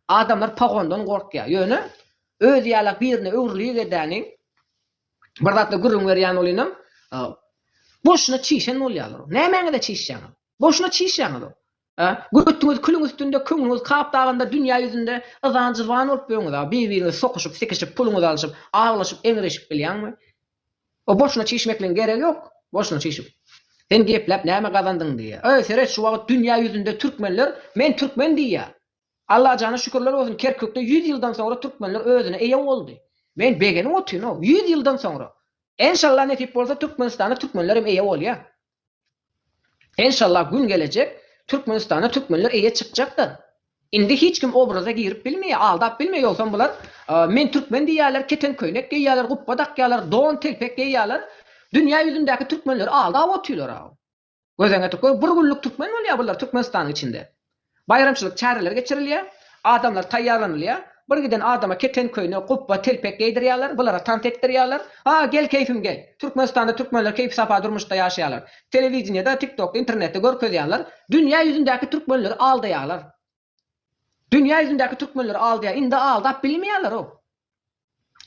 A: Adamlar pogondan gorkýar. Ýöne özi ýalak birine öwrülik edäniň, bir zatlar gürrüň berýän bolanyňam, boşuna çişen bolýarlar. Nämäňize çişýäňiz? Boşuna çişýäňiz-ow. Gürrütdiňiz külüň üstünde köňlüňiz kap dagynda dünýä ýüzünde yzan jyzban bolup ýöňüza bir-biriňizi sokyşyp sikişip puluňyzy alşyp aglaşyp eňreşip bilýäňmi o boşuna çişmekligiň geregi ýok boşuna çişip sen gepläp näme gazandyň diýýä öý seret şu wagyt dünýä ýüzünde türkmenler men türkmen diýýä Allajana şükürler bolsun Kerkükde ýüz ýyldan soňra türkmenler özüne eýe boldy men begenip otyryn o ýüz ýyldan soňra enşalla nesip bolsa Türkmenistana türkmenler hem eýe bolýa Enşallah gün gelejek Türkmenistana Türkmenler eýe çykjakdyr. Indi hiç kim obraza girip bilmeýär, aldap bilmeýär ýogsam bular men Türkmen diýýärler, keten köýnek geýýärler, gupba dakýarlar, don, telpek geýýärler, dünýä ýüzündäki Türkmenleri aldap otyrlar aw. Gözeňe tükür bir günlük Türkmen bolýar bular Türkmenistanyň içinde. Baýramçylyk çäreleri geçirilýär. Adamlar taýýarlanylýar. Bir giden adama keten köýnek, gupba, telpek geýdirýärler, bulara tans etdirýärler. Ha, gel, keýfim gel! Türkmenistanda türkmenler keýpi-sapa durmuşda ýaşaýarlar. Telewideniýede, TikTokda, internetde görkezýärler. Dünýä ýüzündäki türkmenleri aldaýarlar. Dünýä ýüzündäki türkmenleri aldaýar. Indi aldap bilmeýärler-ow.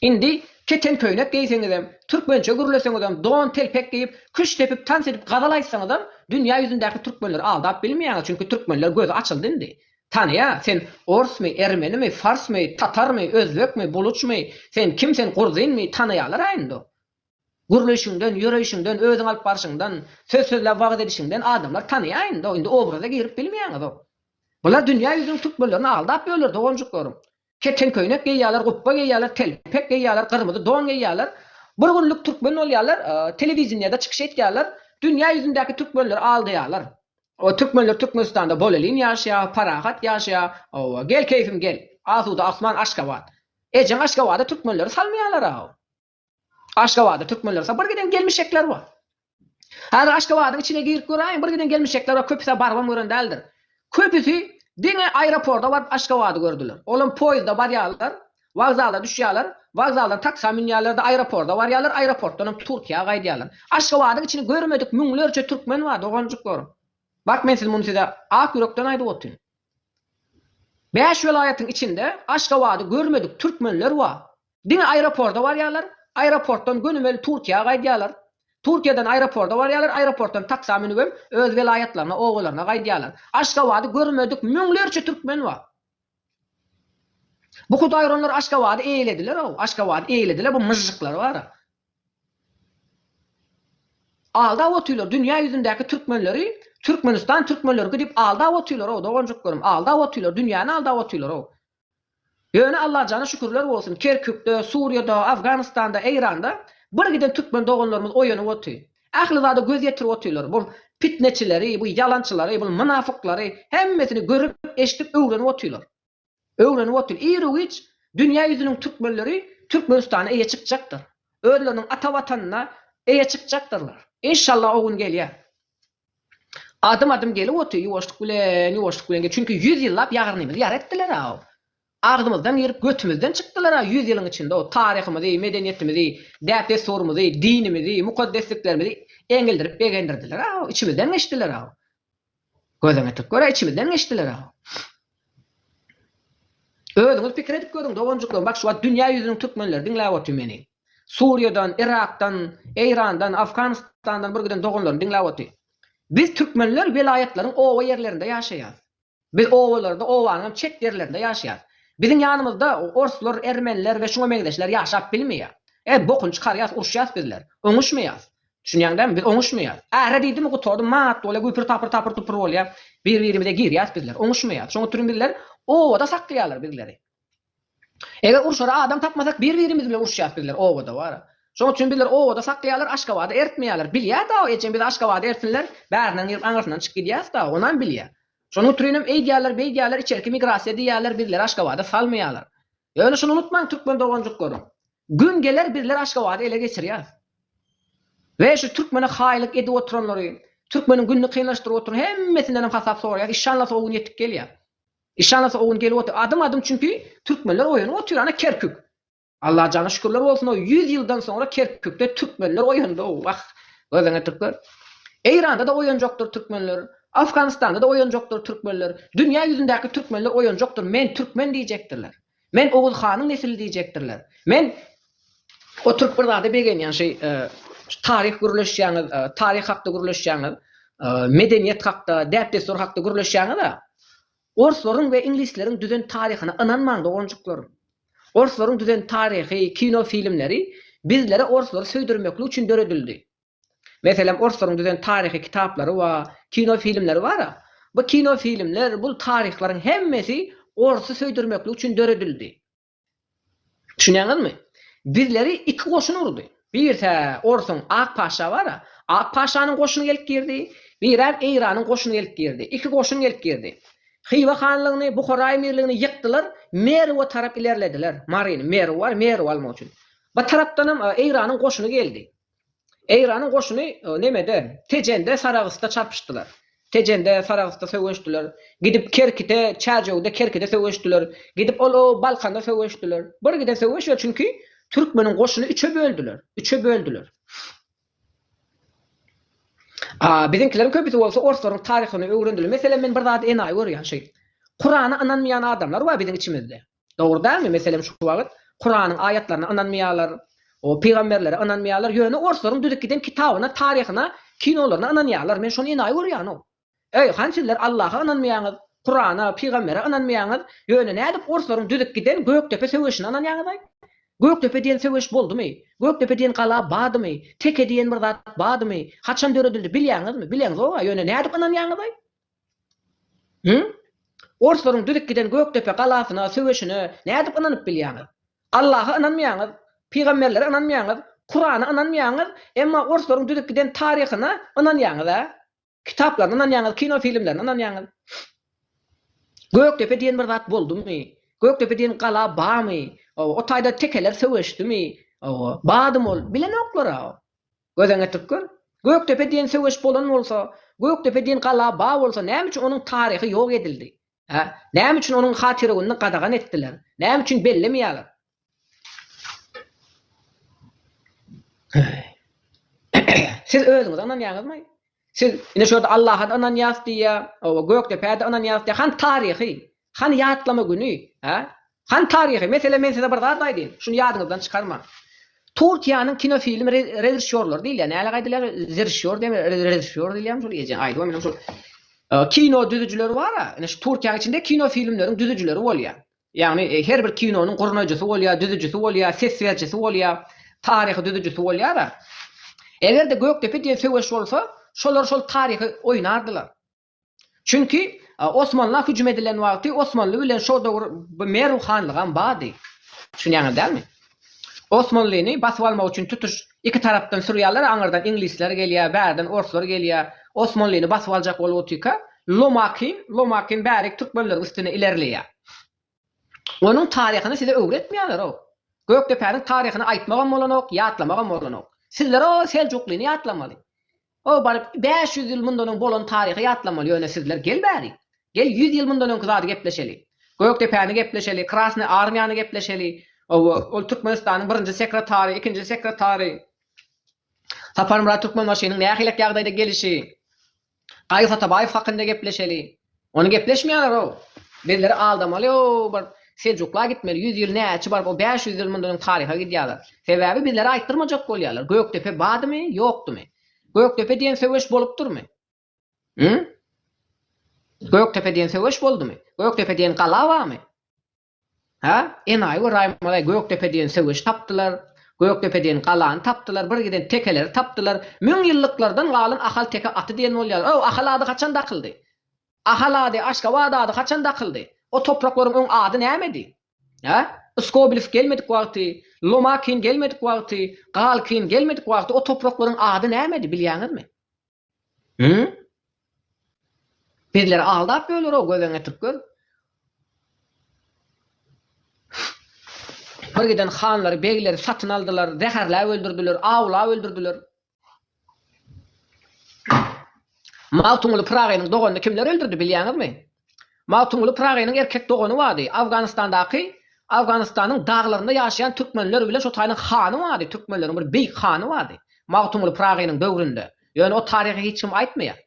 A: Indi keten köýnek geýseňizem, türkmençe gürleseňizem, don, telpek geýip, küşt depip, tans edip, gazal aýtsaňyzam, dünýä ýüzündäki türkmenleri aldap bilmeýäňiz, çünki türkmenler gözi açyldy indi. Tanaýa, sen orsmy, ermenimi, farsmy, tatarmy, özbekmi, buluçmy, sen kim, sen gurzinmi, tanaýalar-a indi. Gürleýşiňden, ýöreýşiňden, özüňi alyp barşyňdan, söz sözläp wagyz edişiňden adamlar tanaýa indi, indi obraza girip bilmeýäňizok. Bular dünýä ýüzüniň türkmenlerini aldap ýörler, doganjyklaryň. Keten köýnek geýýärler, gupba geýýärler, telpek geýýärler, gyrmyzy don geýýärler. Bir günlük türkmen bolýarlar, telewideniýede çykyş etýärler, dünýä ýüzündäki türkmenleri aldaýarlar. Türkmenler Türkmenistanda bolelin ýaşaýar, parahat ýaşaýar. Hawa, gel keýfim gel. Asuda asman Aşgabat. Ejeň Aşgabada türkmenleri salmaýarlar-aw. Aşgabada türkmenler sa bir giden gelmişekler bar. Hazir Aşgabadyň içine girip göräýiň bir giden gelmişekler bar köpüsa barybam gören däldir. Köpüsi diňe aeroporda baryp Aşgabady gördüler. Olam poýizda barýarlar, wokzala düşýärler, wokzaldan taksa münýärlerde aeroporda barýarlar, aeroportdanam Türkiýä gaýdýarlar. Aşgabadyň içini görmedik müňlerçe türkmen bar doganjyklarym. Bak men siz muny size ak ýürekden aýdyp otyryn. Bäş welaýatyň içinde Aşgabady görmedik türkmenler bar. Diňe aeroporda barýarlar, aeroportdan gönümel Turkiýa gaýdýarlar. Turkiýadan aeroporda barýarlar, aeroportdan taksa münüp hem öz welaýatlaryna, obalaryna gaýdýarlar. Aşgabady görmedik müňlerçe türkmen bar. Bu hudaýyronlar Aşgabady eýlediler-ow, Aşgabady eýlediler, bu myžžyklar bar-a. Aldap otyrlar dünýä ýüzündäki türkmenleri, Türkmenistan türkmenleriki diýip aldap otyrlar-ow, doganjyklarym, aldap otyrlar, dünýäni aldap otyrlar-ow. Ýöne Allajana şükürler bolsun, Kerkükde, Suriýada, Afganystanda, Eýranda birgiden türkmen doganlarymyz oýanyp oty. Ähli zada göz ýetirip otyrlar. Bu pitneçileri, bu ýalançylary, bu mynafyklary hemmesini görüp, eşidip öwrenip otyrlar. Öwrenip otyr. Irgiç dünýä ýüzüniň türkmenleri Türkmenistana eýe çykjakdyr. Özleriniň ata watanyna eýe çykjakdyrlar. Inşallah o gün gelýär. Adym-adym gelip oty, ýuwaşlyk bilen, ýuwaşlyk bilen gelip, çünki ýüz ýyllap ýarnymyzy ýar etdiler-ow. Agzymyzdan girip, götümizden çykdylar-a ýüz ýylyň içinde-ow, taryhymyzy, medeniýetimizi, däp-dessurymyzy, dinimizi, mukaddesliklerimizi eňildirip begendirdiler-ow, içimizden geçdiler-ow. Gözüňi ýetirip gör-ä, içimizden geçdiler-ow. Özüňiz pikir edip görüň doganjyklar bak şu wagt dünýä ýüzüniň türkmenleri diňläp otyr meni. Suriýadan, Yrakdan, Eýrandan, Afganistandan bir giden doganlarym diňläp otyr. Biz türkmenler welaýatlaryň oba ýerlerinde ýaşaýas. Biz obalarda obanyňam çet ýerlerinde ýaşaýas. Biziň ýanymyzda orslar, ermeniler we şuňa meňzeşler ýaşap bilmeýär. Ä bokuny çykarýas uruşýas bizler. Oňuşmaýas. Düşünýäň dämi, biz oňuşmaýarys. Äre diýdimi gutardym, maat bolýar, güpür tapyr tapyr tupur bolýar. Bir birimize girýäs bizler, oňuşmaýarys. Şoň üçin bizler obada saklaýarlar bizleri. Eger urşara adam tapmasak bir birimiz bilen uruşýas bizler obada wara. Şoň üçin bizler obada saklaýarlar Aşgabada ertmeýärler. Bilýär dagy ejem bizi Aşgabada ertsinler, bärinden girip aňyrsyndan çyk gidýäs dagy, onam bilýär. Şonuň üçinem eýdýärler beýdýärler içerki migrasiýa diýýärler bizleri Aşgabada salmaýarlar. Ýöne şuny unutmaň türkmen doganjyklarym. Gün geler bizler Aşgabady ele geçirýäs we şu türkmene haýylyk edip oturanlary, türkmeniň gününi kynlaşdyryp oturan hemmesindenem hasap soraýas. Işanlasy o gün ýetip gelýär. Işanlasy o gün gelip otyr. Adym adym çünki türkmenler oýanyp otyr ana Kerkük. Allajana şükürler bolsun o ýüz ýyldan soňra Kerkükde türkmenler oýandy o wah gözüňe türkmen. Eýranda da oýanjakdyr türkmenler. Afganystanda da oýanjakdyr türkmenler. Dünýä ýüzündäki türkmenler oýanjakdyr men türkmen diýjekdirler. Men Oguz hanyň nesili diýjekdirler. Men oturyp bir zada begenýän şeý taryh gürleşýäňiz, taryh hakda gürleşýäňiz, medeniýet hakda, däp-dessur hakda gürleşýäňiz-ä. Orslaryň we iňlisleriň düzen taryhyna ynanmaň doganjyklar. Orslaryň düzen taryhy, kino filmleri bizlere orslary söýdürmeklik üçin döredildi. Meselem, orslaryň düzen taryhy kitaplary we kino filmleri bar-a. Bu kino filmler, bu taryhlaryň hemmesi orsy söýdürmeklik üçin döredildi. Düşünýäňizmi? Bizleri iki goşun urdy. Birse orsuň Ak paşa bar-a, Ak paşanyň goşuny gelip girdi, birem Eýranyň goşuny gelip girdi. Iki goşun gelip girdi. Hywa hanlygyny, Buhara emirligini ýykdylar, Merwe tarap ilerlediler. Maryny, Merw bar, Merwi almak üçin. Bir tarapdanam Eýranyň goşuny geldi. Eýranyň goşuny nemede, Tejende, Saragysda çarpyşdylar. Tejende, Saragysda söweşdiler. Gidip Kerkite, Çärjewde, Kerkide söweşdiler. Gidip ol o Balkanda söweşdiler. Bir giden söweş ýok, çünki türkmeniň goşuny üçe böldüler. Üçe böldüler. A biziňkileriň köpüsi bolsa orslaryň taryhyny öwrendiler. Meselem, men bir zady enaýy görýän şeý. Kurana ynanmaýan adamlar bar biziň içimizde. Dogry dälmi? Meselem şu wagyt Kuranyň aýatlaryna ynanmaýarlar, o pygamberlere ynanmaýarlar, ýöne orslaryň düzüp giden kitabyna, taryhyna, kinolaryna ynanýarlar. Men şony enaýy görýänok. Eý, han sizler Allaha ynanmaýaňyz, Kurana, pygambere ynanmaýaňyz, ýöne nädip orslaryň düzüp giden Gökdepe söweşine ynanýaňyzaý? Gökdepe diýen söweş boldumy? Gökdepe diýen gala badymy? Teke diýen bir zat badymy? Haçan döredildi bilýäňizmi? Bileňizog-a, ýöne nädip ynanýaňyzaý? Hüm? Orslaryň düzüp giden Gökdepe galasyna, söweşine nädip ynanyp bilýäňiz? Allaha ynanmaýaňyz, pygamberlere ynanmaýaňyz, Kurana ynanmaýaňyz, emma orslaryň düzüp giden taryhyna ynanýaňyz-a? Kitaplaryna ynanýaňyz, kino filmlerine ynanýaňyz. Gökdepe diýen bir zat boldumy? Gökdepe diýen gala barmy? Hawa, o taýda tekeler söweşdimi? Hawa, badym ol. Bilenoklar-a. Gözeňe türkmen? Gökdepe diýen söweş bolan bolsa, Gökdepe diýen gala ba bolsa näme üçin onuň taryhy ýok edildi? Hä? Näme üçin onuň hatyragunyny gadagan etdiler? Näme üçin bellemeýärler? Siz özüňiz ynanýaňyzmy? Siz ine şo ýerde Allaha-da ynanýas diýýär, oba, Gökdepä-de ynanýas diýýär. Hany taryhy? Hany ýatlama güni, hä? Hany taryhy mesele men size bir zat aýdyn, şuny ýadyňyzdan çykarmaň. Turkiýanyň kinofilm režissýorlary diýilýär, näle gaýdylýar, zeržissýor diýen, režissýor diýilýärmi şol ejeň aýdyby menem şol. Kino düzüjileri bar-a, ine şu Turkiýanyň içinde kino filmleriň düzüjileri bolýar. Ýagny her bir kinonyň gurnaýjysy bolýar, düzüjisi bolýar, ses berijisi bolýar, taryhy düzüjisi bolýar-a. Eger-de Gökdepe diýen söweş bolsa, şolar şol taryhy oýnardylar. Çünki Osmanla hüjüm edilen wagty Osmanly bilen şo döwür Merw hanlygam bardy. Düşünýäňiz dälmi? Osmanlyny basyp almak üçin tutuş iki tarapdan sürýärler, aňyrdan iňlisler gelýär, bärden orslar gelýär. Osmanlyny basyp aljak bolup otyrka Lomakin, Lomakin bärik türkmenleriň üstüne ilerleýär. Onuň taryhyny size öwretmeýärler-ow. Gökdepäniň taryhyny aýtmagam bolanok, ýatlamagam bolanok. Sizler o Seljuklyny ýatlamaly. O baryp bäş ýüz ýyl mundan öň bolan taryhy ýatlamaly, ýöne sizler gel bäri. Gel ýüz ýyl mundan öňki zady gepleşeli. Gökdepäni gepleşeli, Krasnyý armiýany gepleşeli. Hawa, ol Türkmenistanyň birinji sekretary, ikinji sekretary. Saparmyrat Türkmenbaşynyň nähilek ýagdaýda gelişi. Gaýyp Atabaýew hakynda gepleşeli. Ony gepleşmeýärler-ow. Bizleri aldamaly o bir Seljukla gitmeli. Ýüz ýyl näçe baryp o bäş ýüz ýyl mundan öň taryha gidýärler. Sebäbi bizlere aýtdyrmajak bolýarlar. Gökdepe badymy, ýokdumy? Gökdepe diýen söweş bolupdyrmy? Hü? Gökdepe diýen söweş boldumy? Gökdepe diýen gala barmy? Hä, Enaýy we Raýmalaý Gökdepe diýen söweşi tapdylar, Gökdepe diýen galany tapdylar, bir giden tekeleri tapdylar. Müň ýyllyklardan galan Ahal teke aty diýen bolýar. O, Ahal ady haçan dakyldy? Ahal ady, Aşgabat ady haçan dakyldy? O topraklaryň öň ady nämedi? Hä? Skobelew gelmedik wagty, Lomakin gelmedik wagty, Galkin gelmedik wagty o topraklaryň ady nämedi, bilýäňizmi? Hümm? Bizleri aldap ýöler o gözeňetik göz. Bir giden hanlary, begleri satyn aldylar, zäherläp öldürdiler, awlap öldürdiler. Magtymguly Pyragynyň doganyny kimler öldürdi, bilýäňizmi? Magtymguly Pyragynyň erkek dogany bardy. Awganystandaky, Awganystanyň daglarynda ýaşaýan türkmenler bilen şo taýynyň hany bardy, türkmenleriň bir beýik hany bardy. Magtymguly Pyragynyň döwründe. Ýöne o taryhy hiç kim aýtmaýar.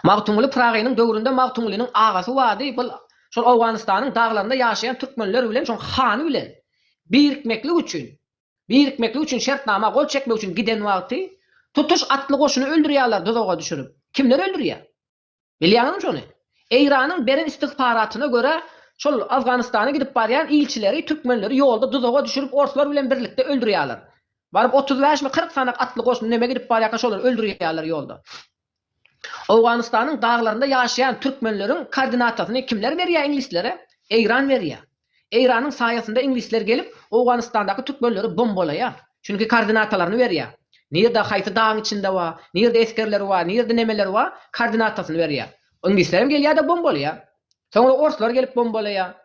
A: Magtymguly Pyragynyň döwründe Magtymgulynyň agasy bardy, bul şol Awganystanyň daglarynda ýaşaýan türkmenler bilen şoň hany bilen birikmeklik üçin, birikmeklik üçin şertnama gol çekmek üçin giden wagty tutuş atly goşuny öldürýärler duzaga düşürip. Kimler öldürýär? Bilýäňizmi şony? Eýranyň beren istigfaratyna görä, şol Afganystana gidip barýan ilçileri, türkmenleri ýolda duzaga düşürip orslar bilen birlikde öldürýärler. Baryp otuz bäşmi kyrk sanak atly goşun neme gidip barýarka şolary öldürýärler ýolda. Owganystanyň daglarynda ýaşaýan türkmenleriň kordinatasyny kimler berýär iňlislere? Eýran berýär. Eýranyň saýasynda iňlisler gelip, Owganystandaky türkmenleri bombalaýar. Çünki koordinatalaryny berýär. Nirde haýsy dagyň içinde bar, nirde esgerleri bar, nirde nemeleri bar, koordinatasyny berýär. Iňlislerem gelýär-de bombalaýar. Soňra orslar gelip bombalaýar.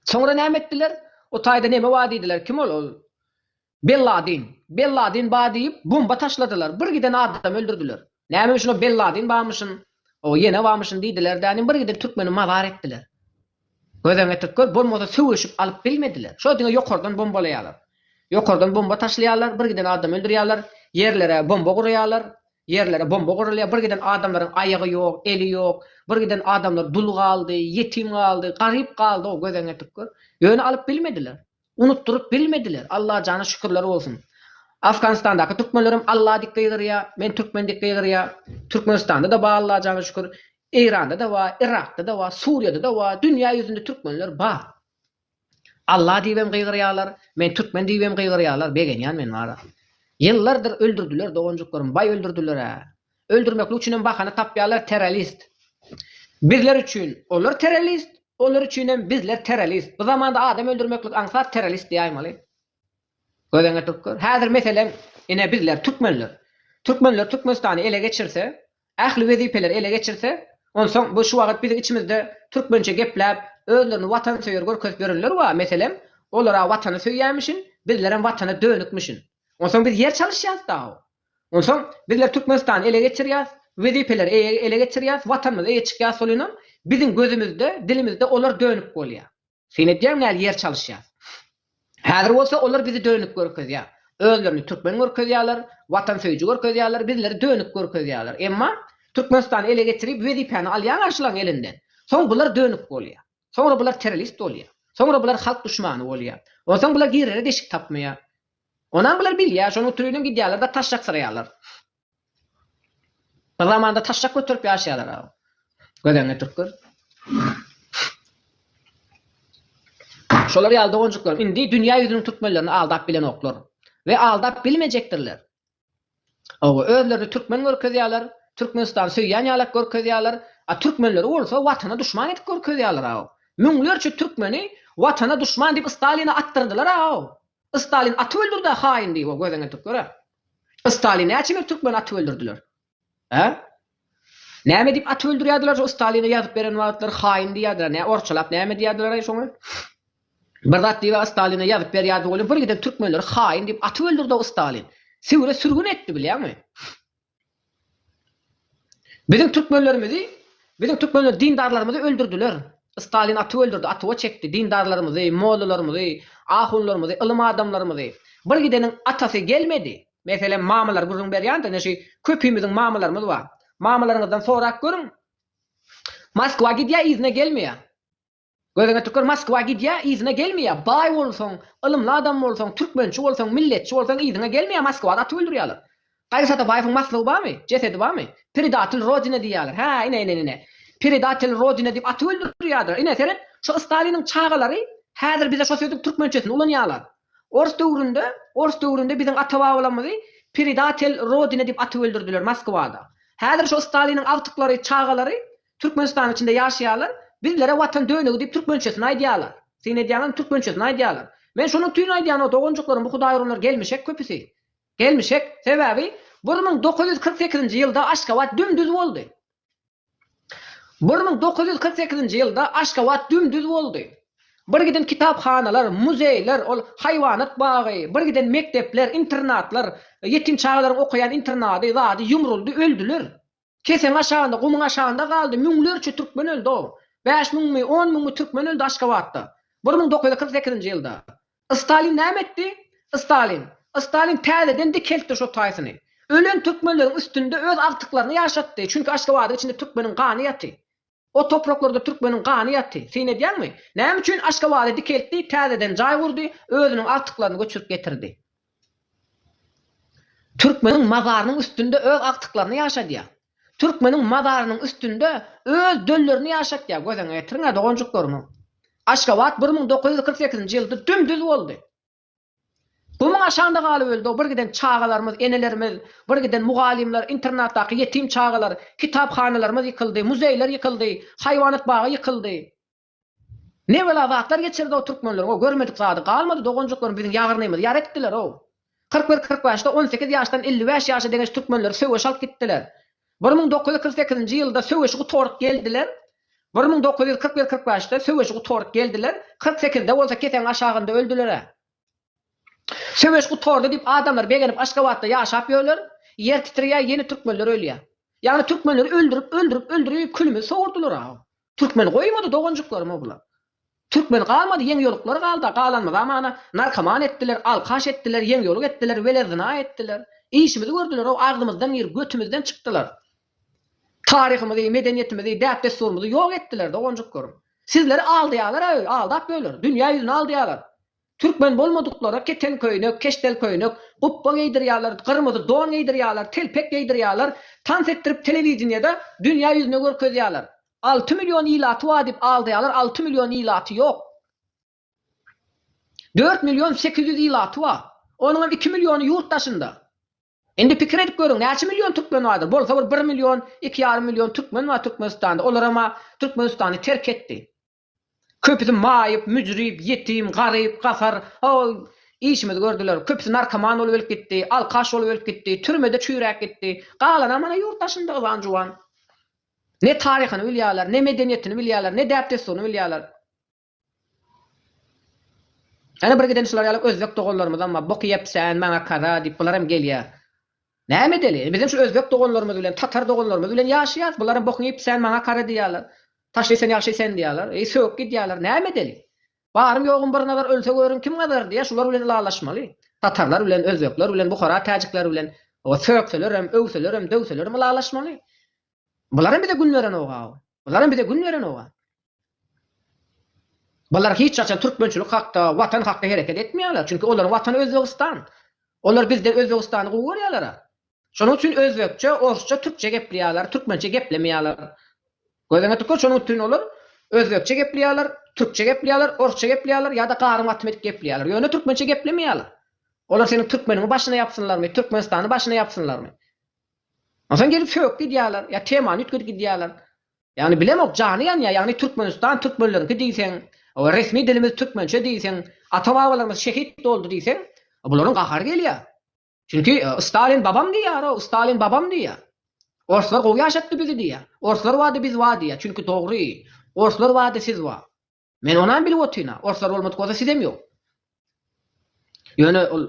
A: Soňra näme etdiler? O taýda neme bar diýdiler. Kim ol? Ol Belladin. Belladin ba diýip bomba taşladylar. Bir giden adam öldürdiler. Näme üçin o Belladin bamyşyn, o ýene bamyşyn diýdiler dänim bir giden türkmeni mazar etdiler. Gözden getirip gör, bolmasa söweşip alyp bilmediler. Şo diňe ýokardan bombalaýalar. Ýokardan bomba taşlaýalar, bir giden adam öldürýalar, ýerlere bomba guraýalar, ýerlere bomba gurulýar, bir giden adamlaryň aýagy ýok, eli ýok, bir giden adamlar dul galdy, ýetim galdy, garyp galdy-ow gözden getirip gör. Ýöne alyp bilmediler. Unutdyryp bilmediler. Allajana şükürler bolsun. Afganistandaky türkmenlerem Alla dik gygyrýa, men türkmen dik gygyrýa. Türkmenistanda-da bar Allajana şükür. Eýranda-da bar, Yrakda-da bar, Suriýada-da bar. Dünýä ýüzünde türkmenler bar. Alla diýibem gygyrýalar, men türkmen diýibem gygyrýalar. Begenýän men bara. Ýyllardyr öldürdiler doganjyklarym, baý öldürdiler-ä. Öldürmeklik üçinem bahana tapýarlar terrorist. Bizler üçin olar terrorist, olar üçinem bizler terrorist. Bu zamanda adam öldürmeklik aňsat terrorist diýäýmeli. Gözüň ýetirip gör. Häzir meselem ine bizler türkmenler. Türkmenler Türkmenistany ele geçirse, ähli wezipeleri ele geçirse, onsoň bu şu wagyt biziň içimizde türkmençe gepläp, özlerini watansöýer görkezip ýörenler bar, meselem, olar-a watany söýýämişin, bizlerem watana dönükmişin. Onsoň biz ýer çalyşýas dagy. Onsoň bizler Türkmenistany ele geçirýäs, wezipeleri ele geçirýäs, Watanymyzy eýe çykýas solinam biziň gözümizde, dilimizde olar dönük bolýa. Syn edýäň näl ýer çalyşýas. Häzir bolsa olar bizi dönük görkezýä. Özlerini türkmen görkezýäler, watansöýüji görkezýäler, bizleri dönük görkezýäler. Emma Türkmenistany ele geçirip wezipäni alýaň garşylaň elinden. Soň bular dönük bolýa. Soňra bular terrorist bolýa. Soňra bular halk duşmany bolýa. Onsoň bular girere deşik tapmaýa. Onam bular bilýär, şonuň triniň gidýärler-de taşşak syraýarlar. Bir zamanda taşşak göterip ýaşaýarlar-a. Gödeňňe türkler. Şolar ýaly doganjyklaryň indi dünýä ýüzüniň türkmenlerini aldap bilenoklar. We aldap bilmejekdirler. Hawa, özlerini türkmen görkezýärler, Türkmenistany söýýän ýalak görkezýärler, a türkmenleri bolsa Watana duşman edip görkezýärler-aw. Müňlerçe türkmeni Watana duşman diýip Staline atdyrdylar-aw. Stalin atyp öldürdi-ä haýyn diýip o gözeneteklere. Stalin näçe bir türkmeni atyp öldürdiler. Hä? Näme diýip at öldürýärdiler şo Stalina ýazyp beren wagtlary haýyn diýýärdiler nä orçalap näme diýýärdiler-aý şoňa? Bir zat diýip-ä Stalina ýazyp berýärdi welin bir giden türkmenleri haýyn diýip atyp öldürdi-ow Stalin. Siwre sürgün etdi bilýäňmi? Biziň türkmenlerimizi, biziň türkmenler dindarlarymyzy öldürdiler. Stalin atyp öldürdi, atyp-a çekdi dindarlarymyzy, mollalarymyzy, ahunlarymyzy, ylym adamlarymyzy. Bir gideniň atasy gelmedi. Meselem, mamalar gürrüň berýändir, ine şu köpimiziň mamalarymyz bar. Mamalaryňyzdan sorap görüň, Moskwa gidýär, yzyna gelmeýär. Gözüňe tükür, Moskwa gidýär, yzyna gelmeýär. Baý bolsaň, ylymly adam bolsaň, türkmençi bolsaň, milletçi bolsaň, yzyňa gelmeýär, Moskwada atyp öldürýärler. Gaýgy Satabäýewiň maslygy barmy, jesedi barmy? Predatel Rodine diýýärler. Hä, ine, ine, ine. Predatel Rodine diýip atyp öldürýärdiler. Ine, seret, şu Staliniň çagalary häzir bize şo sözüň türkmençesini ulanýarlar. Ors döwründe ors döwründe biziň ata-babalarymyzy Predatel Rodine diýip atyp öldürdiler Moskwada. Häzir şo Staliniň agtyklary, çagalary Türkmenistanyň içinde ýaşaýarlar. Bizlere Watan dönügi diýip türkmençesini aýdýarlar. Syn edýäňizmi türkmençesini aýdýarlar. Men şonuň üçin aýdýan-ow doganjyklarym bu hudaýuranlar gelmişek köpüsi. Gelmişek. Sebäbi bir müň dokuz ýüz kyrk sekizinji ýylda Aşgabat düm-düz boldy. Bir müň dokuz ýüz kyrk sekizinji ýylda Aşgabat dümdüz boldy. Birgiden kitaphanalar, muzeýler, ol haýwanat bagy, birgiden mekdepler, internatlar, ýetim çagalaryň okaýan internady, zady ýumruldy, öldüler. Keseň aşagynda, gumuň aşagynda galdy, müňlerçe türkmen öldi-ow. Bäş müňmi, on müňmi türkmen öldi Aşgabatda. Bir müň dokuz ýüz kyrk sekizinji ýylda. Stalin näme etdi? Stalin. Stalin täzeden dikeltdi şo taýsyny. Ölen türkmenleriň üstünde öz agtyklaryny ýaşatdy. Çünki Aşgabadyň içinde türkmeniň gany ýaty. O topraklarda türkmeniň gany ýaty. Syn edýäňmi? Näme üçin Aşgabady dikeltdi, täzeden jaý gurdy, özüniň agtyklaryny göçürip getirdi. Türkmeniň mazarynyň üstünde öz agtyklaryny ýaşadýar. Türkmeniň mazarynyň üstünde öz döllerini ýaşatýar. Gözüňe getiriň-ä, doganjyklarymyň. Aşgabat bir müň dokuz ýüz kyrk sekizinji ýylda düm-düz boldy. Gumuň aşagynda galyp öldi-ow bir giden çagalarymyz, enelerimiz, bir giden mugallymlar, internatdaky ýetim çagalar, kitaphanalarymyz ýykyldy, muzeýler ýykyldy, haýwanat bagy ýykyldy. Ne bela zatlar geçirdi-ow türkmenler, o görmedik zady galmady, doganjyklarymy biziň ýagyrnymyzy ýar etdiler-ow. Kyrk bir, kyrk bäşde on sekiz ýaşdan elli bäş ýaşa deňeş türkmenleri söweş alyp gitdiler. Bir müň dokuz ýüz kyrk sekizinji ýylda söweşi gutaryp geldiler, bir müň dokuz ýüz kyrk bir, kyrk bäşde söweşi gutaryp geldiler, kyrk sekizde bolsa kesegiň aşagynda öldüler-ä. Söweş gutardy diýip adamlar begenip Aşgabatda ýaşap ýörler, ýer titrýär, ýene türkmenler ölýär. Ýagny türkmenleri öldürip, öldürip, öldürip külümizi sowurdylar-a. Türkmen goýmady doganjyklarymy ogula. Türkmen galmady ýeň ýoluklar galda galanmyza mana narkoman etdiler alkaş etdiler ýeň ýoluk etdiler wele zyna etdiler işimizi gördülerow agzymyzdan girip götümizden çykdylar taryhymyzy medeniýetimizi däp dessurymyzy ýok etdiler doganjyklarym sizleri aldaýalar öý aldap öýler dünýä ýüzüni aldaýalar Türkmen bolmadyklara keten köýnek, keşdel köýnek, gupba geýdirýärler, gyrmyzy don geýdirýärler, telpek geýdirýärler, tans etdirip telewideniýede dünýä ýüzüne görkezýärler. Alty million ilaty bar diýip aldaýarlar, alty million ilaty ýok. Dört million sekiz ýüz ilaty bar. Onuňam iki milliony ýurt daşynda. Indi pikir edip görüň, näçe million türkmen bardyr? Bolsa bir bir million, iki ýarym million türkmen bar Türkmenistanda. Olaram-a Türkmenistany terk etdi. Köpüsi maýyp, müjrüp, ýetim, garyp, gasar, hoý, işimizi gördüler. Köpüsi narkoman bolup ölüp gitdi, alkaş bolup ölüp gitdi, türmede çüýräp gitdi. Galanam mana ýurt daşynda yzan-juwan. Ne taryhyny bilýärler, ne medeniýetini bilýärler, ne däp-dessuryny bilýärler. Ýöne bir giden şular ýaly özbek doganlarymyzam bar. Bok iýepsen, maňa kaza diýip, bular hem gelýär. Näme edeli? Bizem şu özbek doganlarymyz bilen, tatar doganlarymyz bilen ýaşaýarys. Bularam bokuň iýip, sen maňa kara diýýärler. Taşly sen, ýagşy sen diýýärler. Eý, sögüp gidýärler. Näme edeli? Barym ýogum bir nazar ölse görüň kim gazar diýýär, şular bilen ylalaşmaly. Tatarlar bilen, özbekler bilen, buhara täjikler bilen sögselerem, öwselerem, döwselerem ylalaşmaly. Bularam bize gün berenok-aw. Bularam bize gün berenok-a. Bular hiç haçan türkmençilik hakda, Watan hakda hereket etmeýärler. Çünki olaryň Watany Özbegistan. Olar bizden Özbegistany gowy görýärler-a. Şonuň üçin özbekçe, orsça, türkçe gepleýärler, türkmençe geplemeýärler. Gözüňe tükür, şonuň üçin olar özbekçe gepleýärler, türkçe gepleýärler, orsça gepleýärler ýa-da garym gatym edip gepleýärler. Ýöne türkmençe geplemeýärler. Olar seniň türkmeniňi başyna ýapsynlarmy, Türkmenistany başyna ýapsynlarmy? Onsoň gelip sögüp gidýärler, ýa temany üýtgedip gidýärler. Ýagny bilemok, jany ýanýar, ýagny Türkmenistan türkmenleriňki diýseň, resmi dilimiz türkmençe diýseň, ata-babalarymyz şehit boldy diýseň, bularyň gahary gelýär. Çünki Stalin babam diýýär-ow, Stalin babam diýýär. Orslar gowy ýaşatdy bizi diýýär. Orslar bady biz bar diýýär. Çünki dogry, orslar bady siz bar. Men onam bilip otyryn-a, orslar bolmadyk bolsa sizem ýok. Ýöne ol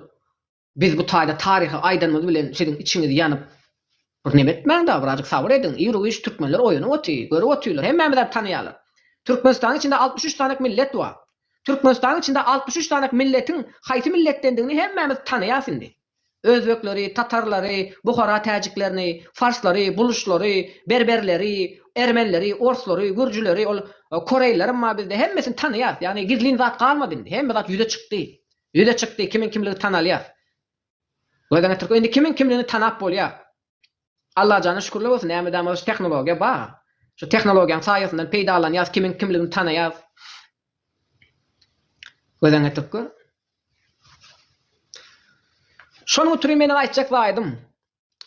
A: Biz bu taýda taryhy aýdanymyz bilen siziň içiňiz ýanyp bir neme etmäň da birazjyk sabyr ediň ir uýuş türkmenler oýanyp oty görüp otyrlar hemmämizäp tanaýarlar Türkmenistanyň içinde altmyş üç sanek millet bar Türkmenistanyň içinde altmyş üç sanek milletiň haýsy milletdendigini hemmämiz tanaýas indi özbekleri tatarlary buhara täjiklerini farslary buluşlary berberleri ermenileri orslary gürjüleri ol koreýlilerem bar bizde hemmesini tanaýas ýagny gizlin zat galmady indi hemme zat ýüze çykdy Ýüze çykdy, kimiň kimligi tanalýar. Gözden geçirk, indi kimiň kimligini tanap bolýar. Allajana şükürler bolsun, nämedamaz şu tehnologiýa bar. Şu tehnologiýanyň saýasyndan peýdalanýas, kimiň kimligini tanaýas. Gözden geçirk gör. Şonuň üçin meniň aýtjak zaýadym,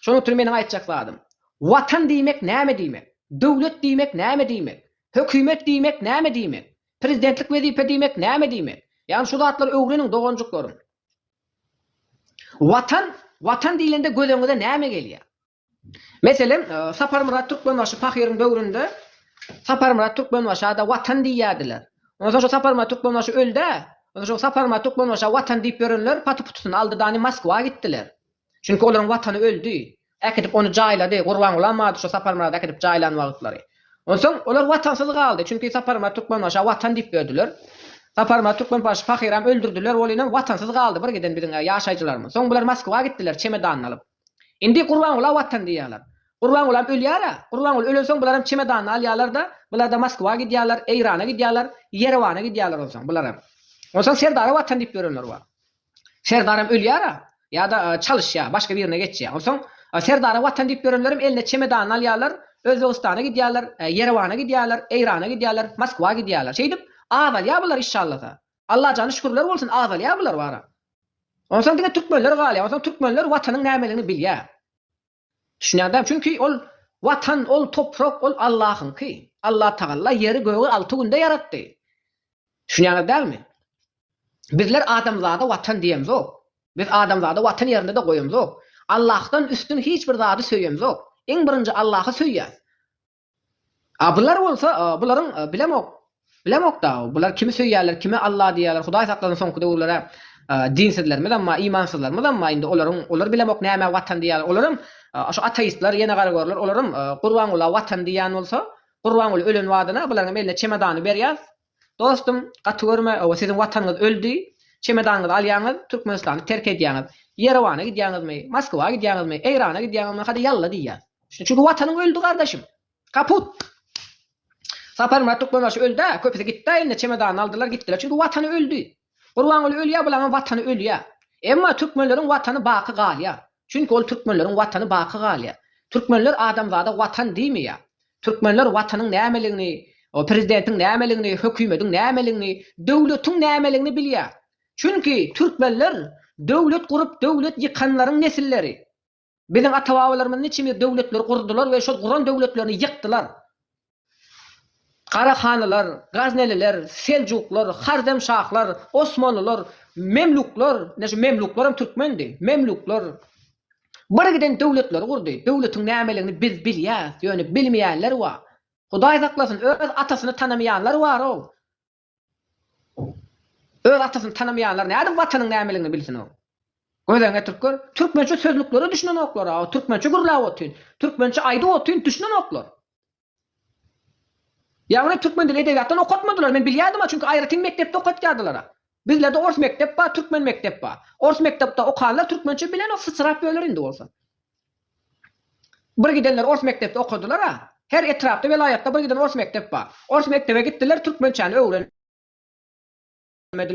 A: Şonuň üçin meniň aýtjak zadym, Watan diýmek näme diýmek? Döwlet diýmek näme diýmek? Hökümet diýmek näme diýmek? Prezidentlik wezipe diýmek näme diýmek? Ýagny şu zatlary öwreniň doganjyklarym. Watan, Watan diýlende gözeňize näme gelýär? Meselem, Saparmyrat Türkmenbaşy pahyryň döwründe Saparmyrat Türkmenbaşa-da Watan diýýärdiler. Ondan soň şu Saparmyrat Türkmenbaşy öldi-ä. Ondan soň Saparmyrat Türkmenbaşa Watan diýip ýörenler paty-putusyny aldy-da, ni Moskwa gitdiler. Çünki olaryň watany öldi. Äkidip ony jaýlady. Gurbangulam bady şu Saparmyrady äkidip jaýlan wagtlary. Onsoň olar watansyz galdy. Çünki Saparmyrat Türkmenbaşa watan diýip berdiler. Saparmyrat Türkmenbaşy pahyram öldürdiler. Welinem watansyz galdy bir giden biziň ýaşaýjylarymyz. Soň bular Moskwa gitdiler çemedanyny alyp. Indi Gurbangula watan diýýärler. Gurbangulam ölýär-ä. Gurbangul ölensoň bularam çemedanyny alýarlar-da, bular-da Moskwa gidýärler, Eýrana gidýärler, Ýerewana gidýärler onsoň bularam. Onsoň Serdara watan diýip ýörenler bar. Serdaram ölýär-ä, ýa-da çalyşýar, başga birine geçýär. Onsoň Serdara Watan diýip ýörenlerem eline çemedanyny alýarlar, Özbegistana gidýärler, Ýerewana gidýärler, Eýrana gidýärler, Moskwa gidýärler. Şeýdip, azalýar bular işşallasa. Allajana şükürler bolsun, azalýar bular bara. Onsoň diňe türkmenler galýar. Onsoň türkmenler Watanyň nämeligini bilýär. Düşünýäňdämi? Çünki ol Watan, ol toprak, ol Allahyňky. Allatagalla ýeri-gögi alty günde ýaratdy. Düşünýäňiz dälmi? Bizler adamzada Watan diýemzok. Biz adamzady Watan ýerinde-de goýamzok. Allahdan üstün hiç bir zady söýemzok. Iň birinji Allahy söýýäs. A bular bolsa, bularyň bilemok, bilemok-da, bular kimi söýýärler, kime Alla diýýärler, Hudaý saklasyn soňky döwürler-ä dinsizlerimiz amma, imansyzlarymyz amma indi olaryň, olar bilemok nämä Watan diýýärler, olaram şu ateistler, ýene garagörler, olaram Gurbangula Watan diýýän bolsa, Gurbanguly ölen badyna bularyňam eline çemodany berýäs, Dostum gaty görme oba siziň watanyňyz öldi çemedanyňyzy alýaňyz Türkmenistany terk edýäňiz Ýerewana gidýäňizmi Moskwa gidýäňizmi Eýrana gidýäňizmi hadi ýalla diýýäs çünki watanyň öldi gardaşym kaput Saparmyrat Türkmenbaşy öldä köpüsi gitdä indi çemedanyny aldylar gitdiler çünki watany öldi. Gurbanguly ölýär bularyň watany ölýär. Emma türkmenleriň watany baky galýar. Çünki ol türkmenleriň watany baky galýar. Türkmenler adamzada watan diýmeýär. Türkmenler watanyň nämeligini, prezidentiň nämeligini, hökümediň nämeligini, döwletiň nämeligini bilýär. Çünki türkmenler döwlet gurup döwlet ýykanlaryň nesilleri. Biziň ata-babalarymyz niçimdir döwletleri gurdular we şol guran döwletlerini ýykdylar. Garahanylar, Gazneliler, Seljuklar, Haremşahlar, Osmanlylar, Memluklar, ine şu Memluklar hem türkmendi, Memluklar birgiden döwletleri gurdy. Döwletiň nämeligini biz bilýäs, ýöne bilmeýänler bar. Hudaý saklasyn, öz atasyny tanamaýanlar bar-ow. Öz atasyny tanamaýanlar nädip Watanyň nämeligini bilsin-ow? Gözeňe türkler, türkmençe sözlüklere düşünenoklar-a, türkmençe gürläp otyn, türkmençe aýdyp otyn, düşünenoklar. Ýagny türkmen dili edebiýatdan okatmadylar, men bilýärdim-a, çünki aýratyn mekdepde okatýardylar-a. Bizlerde ors mekdep bar, türkmen mekdep bar. Ors mekdepde okanlar türkmençe bilenok, syçrap ýörler indi bolsa. Bir gidenler ors mekdepde okadylar-a. Her etrapda, welaýatda bir giden ors mekdep bar. Ors mekdebe gitdiler, türkmençäni öwrenmediler.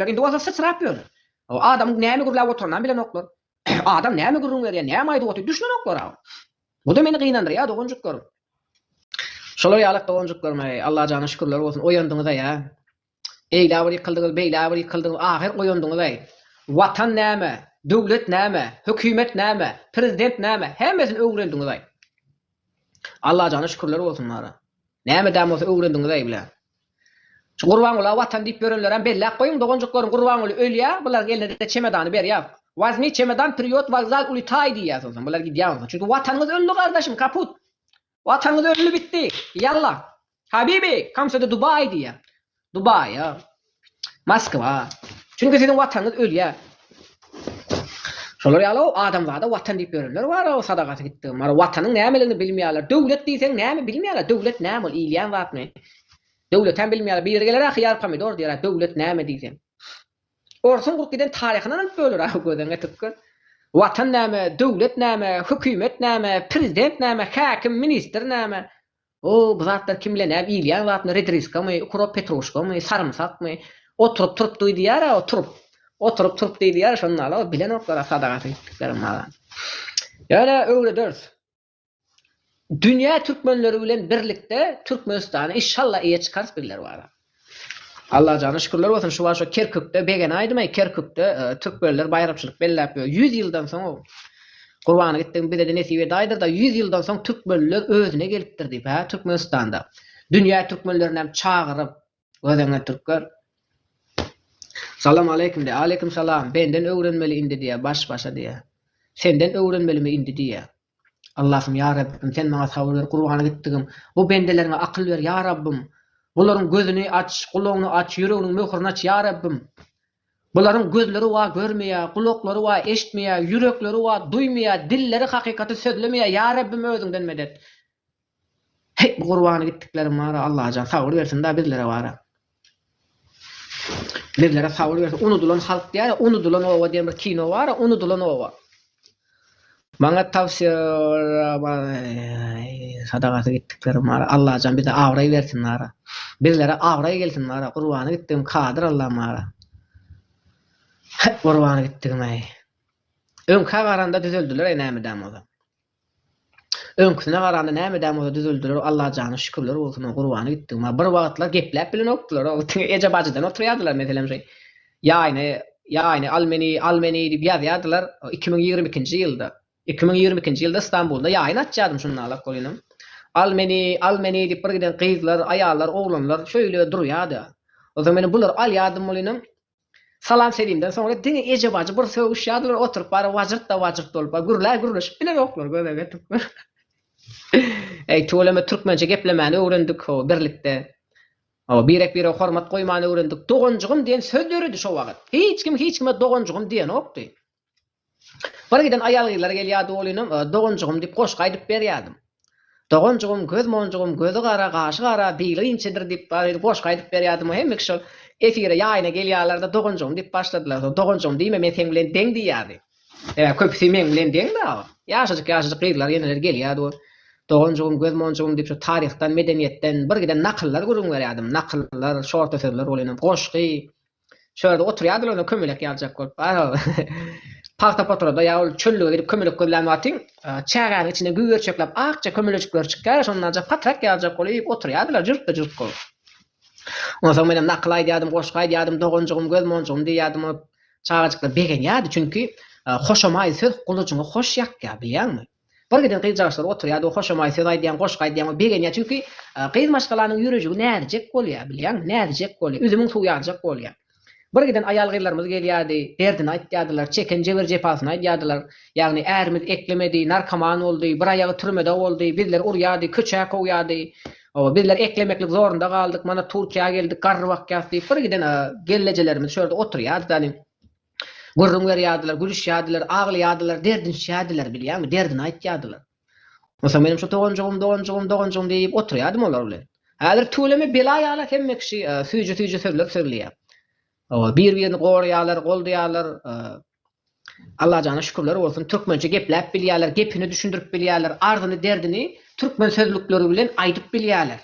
A: Indi bolsa syçrap ýörler. Adamyň näme gürläp oturynam bilenoklar. Adam näme gürrüň berýär, näme aýdyp otyr, düşünenoklar-a. Bu-da meni gynandyrýar doganjyklarym. Şolar ýaly doganjyklarym-aý, Allajana şükürler bolsun, oýandyňyz-aý-a. Beýle bir ýykyldyňyz, beýle bir ýykyldyňyz, ahyr oýandyňyz-aý. Watan näme, döwlet näme, hökümet näme, prezident näme, hemmesini öwrendiňiz-aý. Allajana şükürler bolsun bara. Nämedäm bolsa öwrendiňiz-aý bile. Şu Gurbangula watan diýip ýörenlerem belläp goýuň, doganjyklaryň Gurbanguly ölýä, bularyň eline-de çemedany berýä. Wazmi çemedan, prýot, wokzal, ulitaý diýýä, soňsam bular gidýä onsoň. Çünki watanyňyz öldi gardaşym, kaput. Watanyz öldi bitdi. Yallah. Habibi, come to the Dubai diýýär. Dubaýa. Moskwa. Çünki siziň watanyz ölýär. Şolar ýaly adamzada watan diýip ýörenler bar, o sadagasy gitdi. Mara watanyň nämeligini bilmeýärler. Döwlet diýseň näme bilmeýärler. Döwlet näme ol iýilýän zatmy? Döwletem bilmeýärler. Biri geler-ä hyýar pomidor diýer-ä döwlet näme diýseň. Orsuň gurup giden taryhyndan alyp böler ahy gözeňe tükger. Watan näme, döwlet näme, hökümet näme, prezident näme, häkim, ministr näme? Ow, bu zatlar kim bile näp iýilýän zatmy, redriskamy, ukrop petruşkamy, sarymsakmy? Oturyp turup duýdýar-a o turup. Oturyp turup diýýär şonda-la o bilenoklar-a sadagaty gitdiklerim maga. Ýöne öwrederis. Dünýä türkmenleri bilen birlikde Türkmenistany inşallah eýe çykarys bizler wara. Allajana şükürler bolsun şu wagşa Kerkükde begene aýdymaý Kerkükde e, türkmenler baýramçylyk belläp ýör. 100 ýyldan soň Gurbany gitdiň bize de nesip et aýdyr da 100 ýyldan soň türkmenler özüne gelipdir diýip ha Türkmenistanda. Dünýä türkmenlerini hem çagyryp Gözeňe türkler. Salam aleýkum diýýär. Aleýkum salam. Benden öwrenmeli indi diýýär. Baş başa diýýär. Senden öwrenmelimi indi diýýär. Allahym ýa Rabbim sen maňa sabyr ber gurbana gitdigim. Bu bendeleriňe akyl ber ýa Rabbym. Bularyň gözüni aç, gulagyny aç, ýüreginiň möhürini aç ýa Rabbym. Bularyň gözleri wa görmeýär, gulaklary wa eşitmeýär, ýürekleri wa duýmaýar, dilleri hakykaty sözlemeýär ýa Rabbim özüňden medet. Heý bu gurbany gitdikleriň bara Allajan sabyr bersin da bizlere bara. Bizlere sabyr bersin unudylan halk diýara unudylan oba diýen bir kino bara unudylan oba. Maňa tawsýe sadagasy gitdikleriň bara Allajan bize abraý bersin bara. Bizlere abraý gelsin bara gurbany gitdigim kadyr Allam bara. Heý gurbany gitdigim-eý. Öňkä garanda düzeldiler-eý näme edäýen bolsa. Öňküsine garanda nämedäm bolsa düzeldiler-ow Allajana şükürler bolsun-ow gurbany gitdigim-a bir wagtlar gepläp bilenokdylar-ow diňe eje bajydan oturýardylar meselem şu ýaýyny ýaýyny al meni al meni diýip ýazýardylar iki müň ýigrimi ikinji ýylda iki müň ýigrimi ikinji ýylda Stambulda ýaýyn açýardym şunda alak bolýnam al meni al meni diýip bir giden gyzlar aýallar oglanlar şeýle durýardy ozal meni bular alýardym bolýnam Salam-selimden soňra diňe eje bajy bir sögüşýärdiler, oturyp bary wajyrtda wajyrt bolup bar, gürlä gürleşip bilenoklar göbege türkmen. Eý tüweleme türkmençe geplemäni öwrendik hawa birlikde. Hawa birek birege hormat goýmany öwrendik. Doganjygym diýen söz döredi şo wagyt. Hiç kim hiç kime doganjygym diýenokdy. Bir giden aýal-gyzlar gelýärdi, ol inem, Doganjygym diýip goşgy aýdyp berýärdim. Doganjygym, göz monjugym, gözi gara, gaşy gara, bili inçedir diýip, şeýdip goşgy aýdyp berýärdim. Hemme kişi şol efire, ýaýyna gelýärler-de, Doganjygym diýip başladylar. Soň, Doganjygym diýme, men seň bilen deň diýýärdi. Sebäbi köpüsi meň bilen deň-de. Ýaşajyk-ýaşajyk gyzlar, eneler gelýärdi, ol, Doganjygym, göz monjugym diýip, şol taryhdan, medeniýetden bir giden nakyllar gürrüň berýärdim. Nakyllar, şorta sözler, ol inem, goşgy. Şo ýerde oturýardylar onda kömelek ýazjak bolup. Pagta potrada ýa ol çöllüge gidip kömelek gözlän wagtyň çägäniň içinde güwürçekläp akja kömelejikler çykýar şondanjak patrak ýazjak bolup oturýardylar jürtde jürt bolup. Ondan soň menem nakyl aýdýardym goşgy aýdýardym doganjygym göz monjygym diýýärdim ol çagajyklar begenýärdi çünki hoşamaý söz gulujyňy hoş ýakýar bilýäňmi. Birgiden gyzjagaçlar oturýardy, we hoşamaý söz aýdýaň, goşgy aýdýaň, we begenýär, çünki gyz maşgalanyň ýürejigi näzijek bolýar, bilýäňmi, näzijek bolýar, üzümiň suwy ýaljak bolýar. Birgiden aýal-gyzlarymyz gelýärdi, derdini aýtýardylar, çeken jebir-jepasyny aýdýardylar, ýagny ärimiz eklemedi, narkoman boldy, bir aýagy türmede boldy, bizleri urýardy, köçä kowýardy, hawa, bizler eklemeklik zorunda galdyk, mana Türkiýä geldik, garry bakýas diýip, birgiden gelnejelerimiz şu ýerde oturýardy-da, Gürrüň berýärdiler, gülüşýärdiler, aglaýardylar, derdinişýärdiler, bilýäňmi, derdini aýtýardylar. Onsoň menem şu doganjygym, doganjygym, doganjygym diýip oturýardym olar bilen. Häzir tüweleme bela ýaly hemme kişi süýji-süýji sözler sözleýär. Hawa, bir-birini goraýarlar, goldaýarlar. Allajana şükürler bolsun, türkmençe gepläp bilýärler, gepini düşündirip bilýärler, arzyny, derdini türkmen sözlükleri bilen aýdyp bilýärler.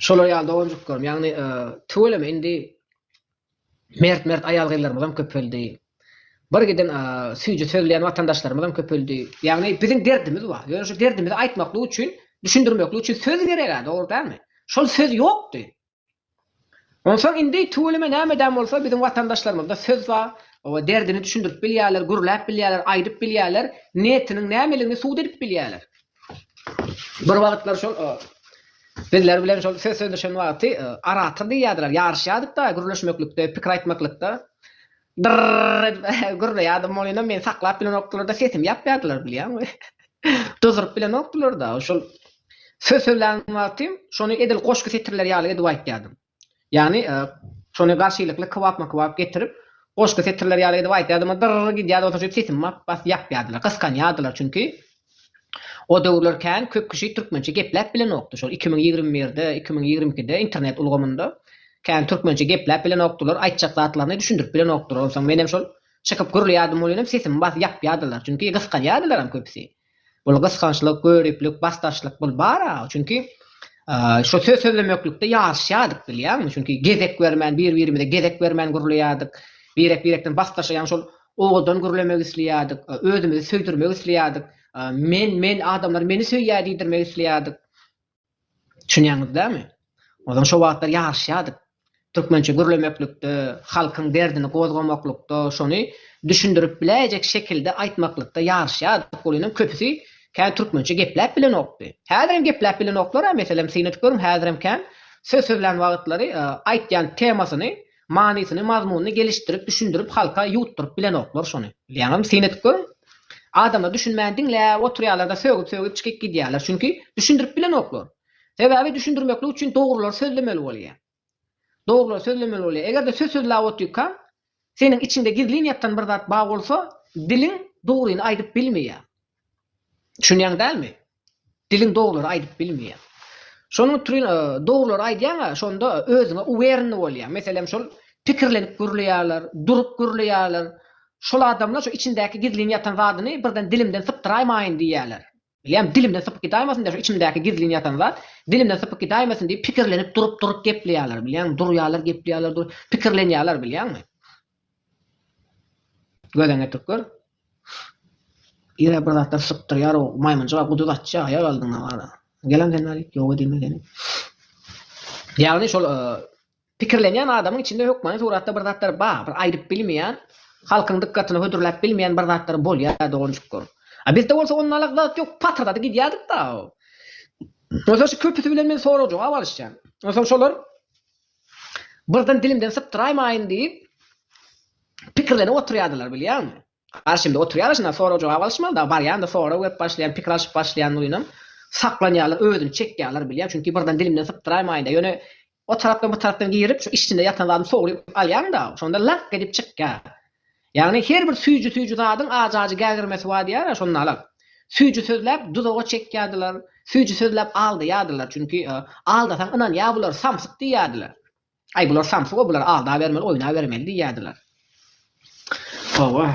A: Şolar ýaly doganjyklarym, ýagny e, tüweleme indi mert-mert aýal-gyzlarymyz hem köpeldi. Bir giden e, süýji sözleýän watandaşlarymyz hem köpeldi. Ýagny biziň derdimiz bar. Ýöne şu derdimizi aýtmaklyk üçin, düşündirmeklik üçin söz gerek-ä, dogry dälmi? Şol söz ýokdy. Onsoň indi tüweleme nämedäm bolsa biziň watandaşlarymyzda söz bar, oba derdini düşündirip bilýärler, gürläp bilýärler, aýdyp bilýärler, niýetiniň nämeligini subut edip bilýärler. Bir wagtlar şol bizler bilen şol söz sözleşen wagty arator diýýärdiler, ýaryşýardyk-da gürleşmeklikde, pikir aýtmaklykda. Dyrr edip gürleýärdim bolýan meni saklap bilenokdylar-da sesimi ýapýardylar bilýäňmi. Dyzyryp bilenokdylar-da şol söz sözlän wagtym şony edil goşgy setirleri ýaly edip aýtýardym. Ýagny şony garşylykly kybapma kybap getirip goşgy setirleri ýaly edip aýtýardym-a dyrr gidýärdi bolsa şeýdip sesimi bas ýapýardylar gysganýardylar çünki O döwürler kän köp kişi türkmençe gepläp bilenokdy. Şol iki müň ýigrimi birde, iki müň ýigrimi ikide internet ulgamynda kän türkmençe gepläp bilenokdylar, aýtjak zatlaryny düşündirip bilenokdylar. Onsoň menem şol çykyp gürleýärdim, ol ýerem sesimi basyp ýapýardylar. Çünki gysganýardylaram köpüsi. Bul gysgançlyk, göriplik, basdaşlyk bul bar-a. Çünki şo söz sözlemeklikde ýaryşýardyk bilýäňmi? Çünki gezek bermän, bir-birimize gezek bermän gürleýärdik. Birek-birekden basdaşa ýaňy şol owadan gürlemek isleýärdik, özümizi söýdürmek isleýärdik, men, men, adamlar meni söýýär diýdirmek isleýärdik. Düşünýäňiz dämi? Ozan şo wagtlar ýaryşýardyk. Türkmençe gürlemeklikde, halkyň derdini gozgamaklykda, şony düşündirip biläýjek şekilde aýtmaklykda ýaryşýardyk. Ol ýene köpüsi kän türkmençe gepläp bilenokdy. Häzirem gepläp bilenoklar-a, meselem, synanyp görüň, häzirem kän söz sözlän wagtlary aýtýan temasyny Manysyny, mazmunyny gelişdirip, düşündirip halka ýuwutdyryp bilenoklar şony. Ýaňam syn edip görüň. Adamlar düşünmän diňläp oturýarlar-da, sögüp-sögüp çykyp gidýärler. Çünki düşündirip bilenoklar. Sebäbi düşündirmeklik üçin dogrulary sözlemeli bolýar. Dogrulary sözlemeli bolýar. Eger-de söz sözläp otyrkaň, seniň içiňde gizlin ýatan bir zat bar bolsa, diliň dogryny aýdyp bilmeýär. Düşünýäň dälmi? Diliň dogrulary aýdyp bilmeýär. Şonuň utrin dogrulary aýdýaň-a, şonda özüňe uwerni bolýaň. Meselem şol pikirlenip gürleýärler, durup gürleýärler. Şol adamlar şu içindäki gizlin ýatan zadyny birden dilimden sypdyraýmaýyn diýýärler. Bilýän, dilimden sypyp gidäýmesin-dä şu içimdäki gizlin ýatan zat, dilimden sypyp gidäýmesin diýip pikirlenip durup-durup gepleýärler, bilýäňmi? Durýarlar gepleýärler, pikirlenýärler, bilýäňmi? Gözeň getirip gör. Ýürek bir zatlar sypdyrýar o maýmynjyga guduz atýa aýak aldyňa wara. Gelen sen weli ýok edinme seni. Ýagny şol pikirlenýän adamyň içinde hökmany suratda bir zatlar bar bir aýdyp bilmeýän halkyň dykgatyna hödürläp bilmeýän bir zatlar bolýa doganjyklar. A bizde bolsa onnalyk zat ýok patyrdady gidýädik da. Onsoň şu köpüsi bilen men sorag jogap alyşýan. Onsoň şolar. Birden dilimden sypdyraýmaýyn diýip, pikirlenip oturýardylar, bilýäňmi? Garşymda oturýarlar, şunda sorag-jogap alyşmaly, dagy barýan-da, sorag berip başlaýan, pikir alşyp başlaýan uýunam saklanýarlar, özüni çekýärler, bilýäň, çünki birden dilimden sypdyraýmaýyn-da, ýöne o tarapdan, bu tarapdan girip, şu içinde ýatan zadyny sogrup alýaň-da, şonda laňk edip çykýar. Ýagny her bir süýji-süýji zadyň ajy-ajy gägirmesi bar diýýärä, şonda alal. Süýji sözläp duzaga çekýärdiler, süýji sözläp aldaýardylar, çünki aldasaň ynanýar bular samsyk diýýärdiler. Aý bular samsyk-ow, bular aldabermeli, oýnabermeli diýýärdiler. Hawa.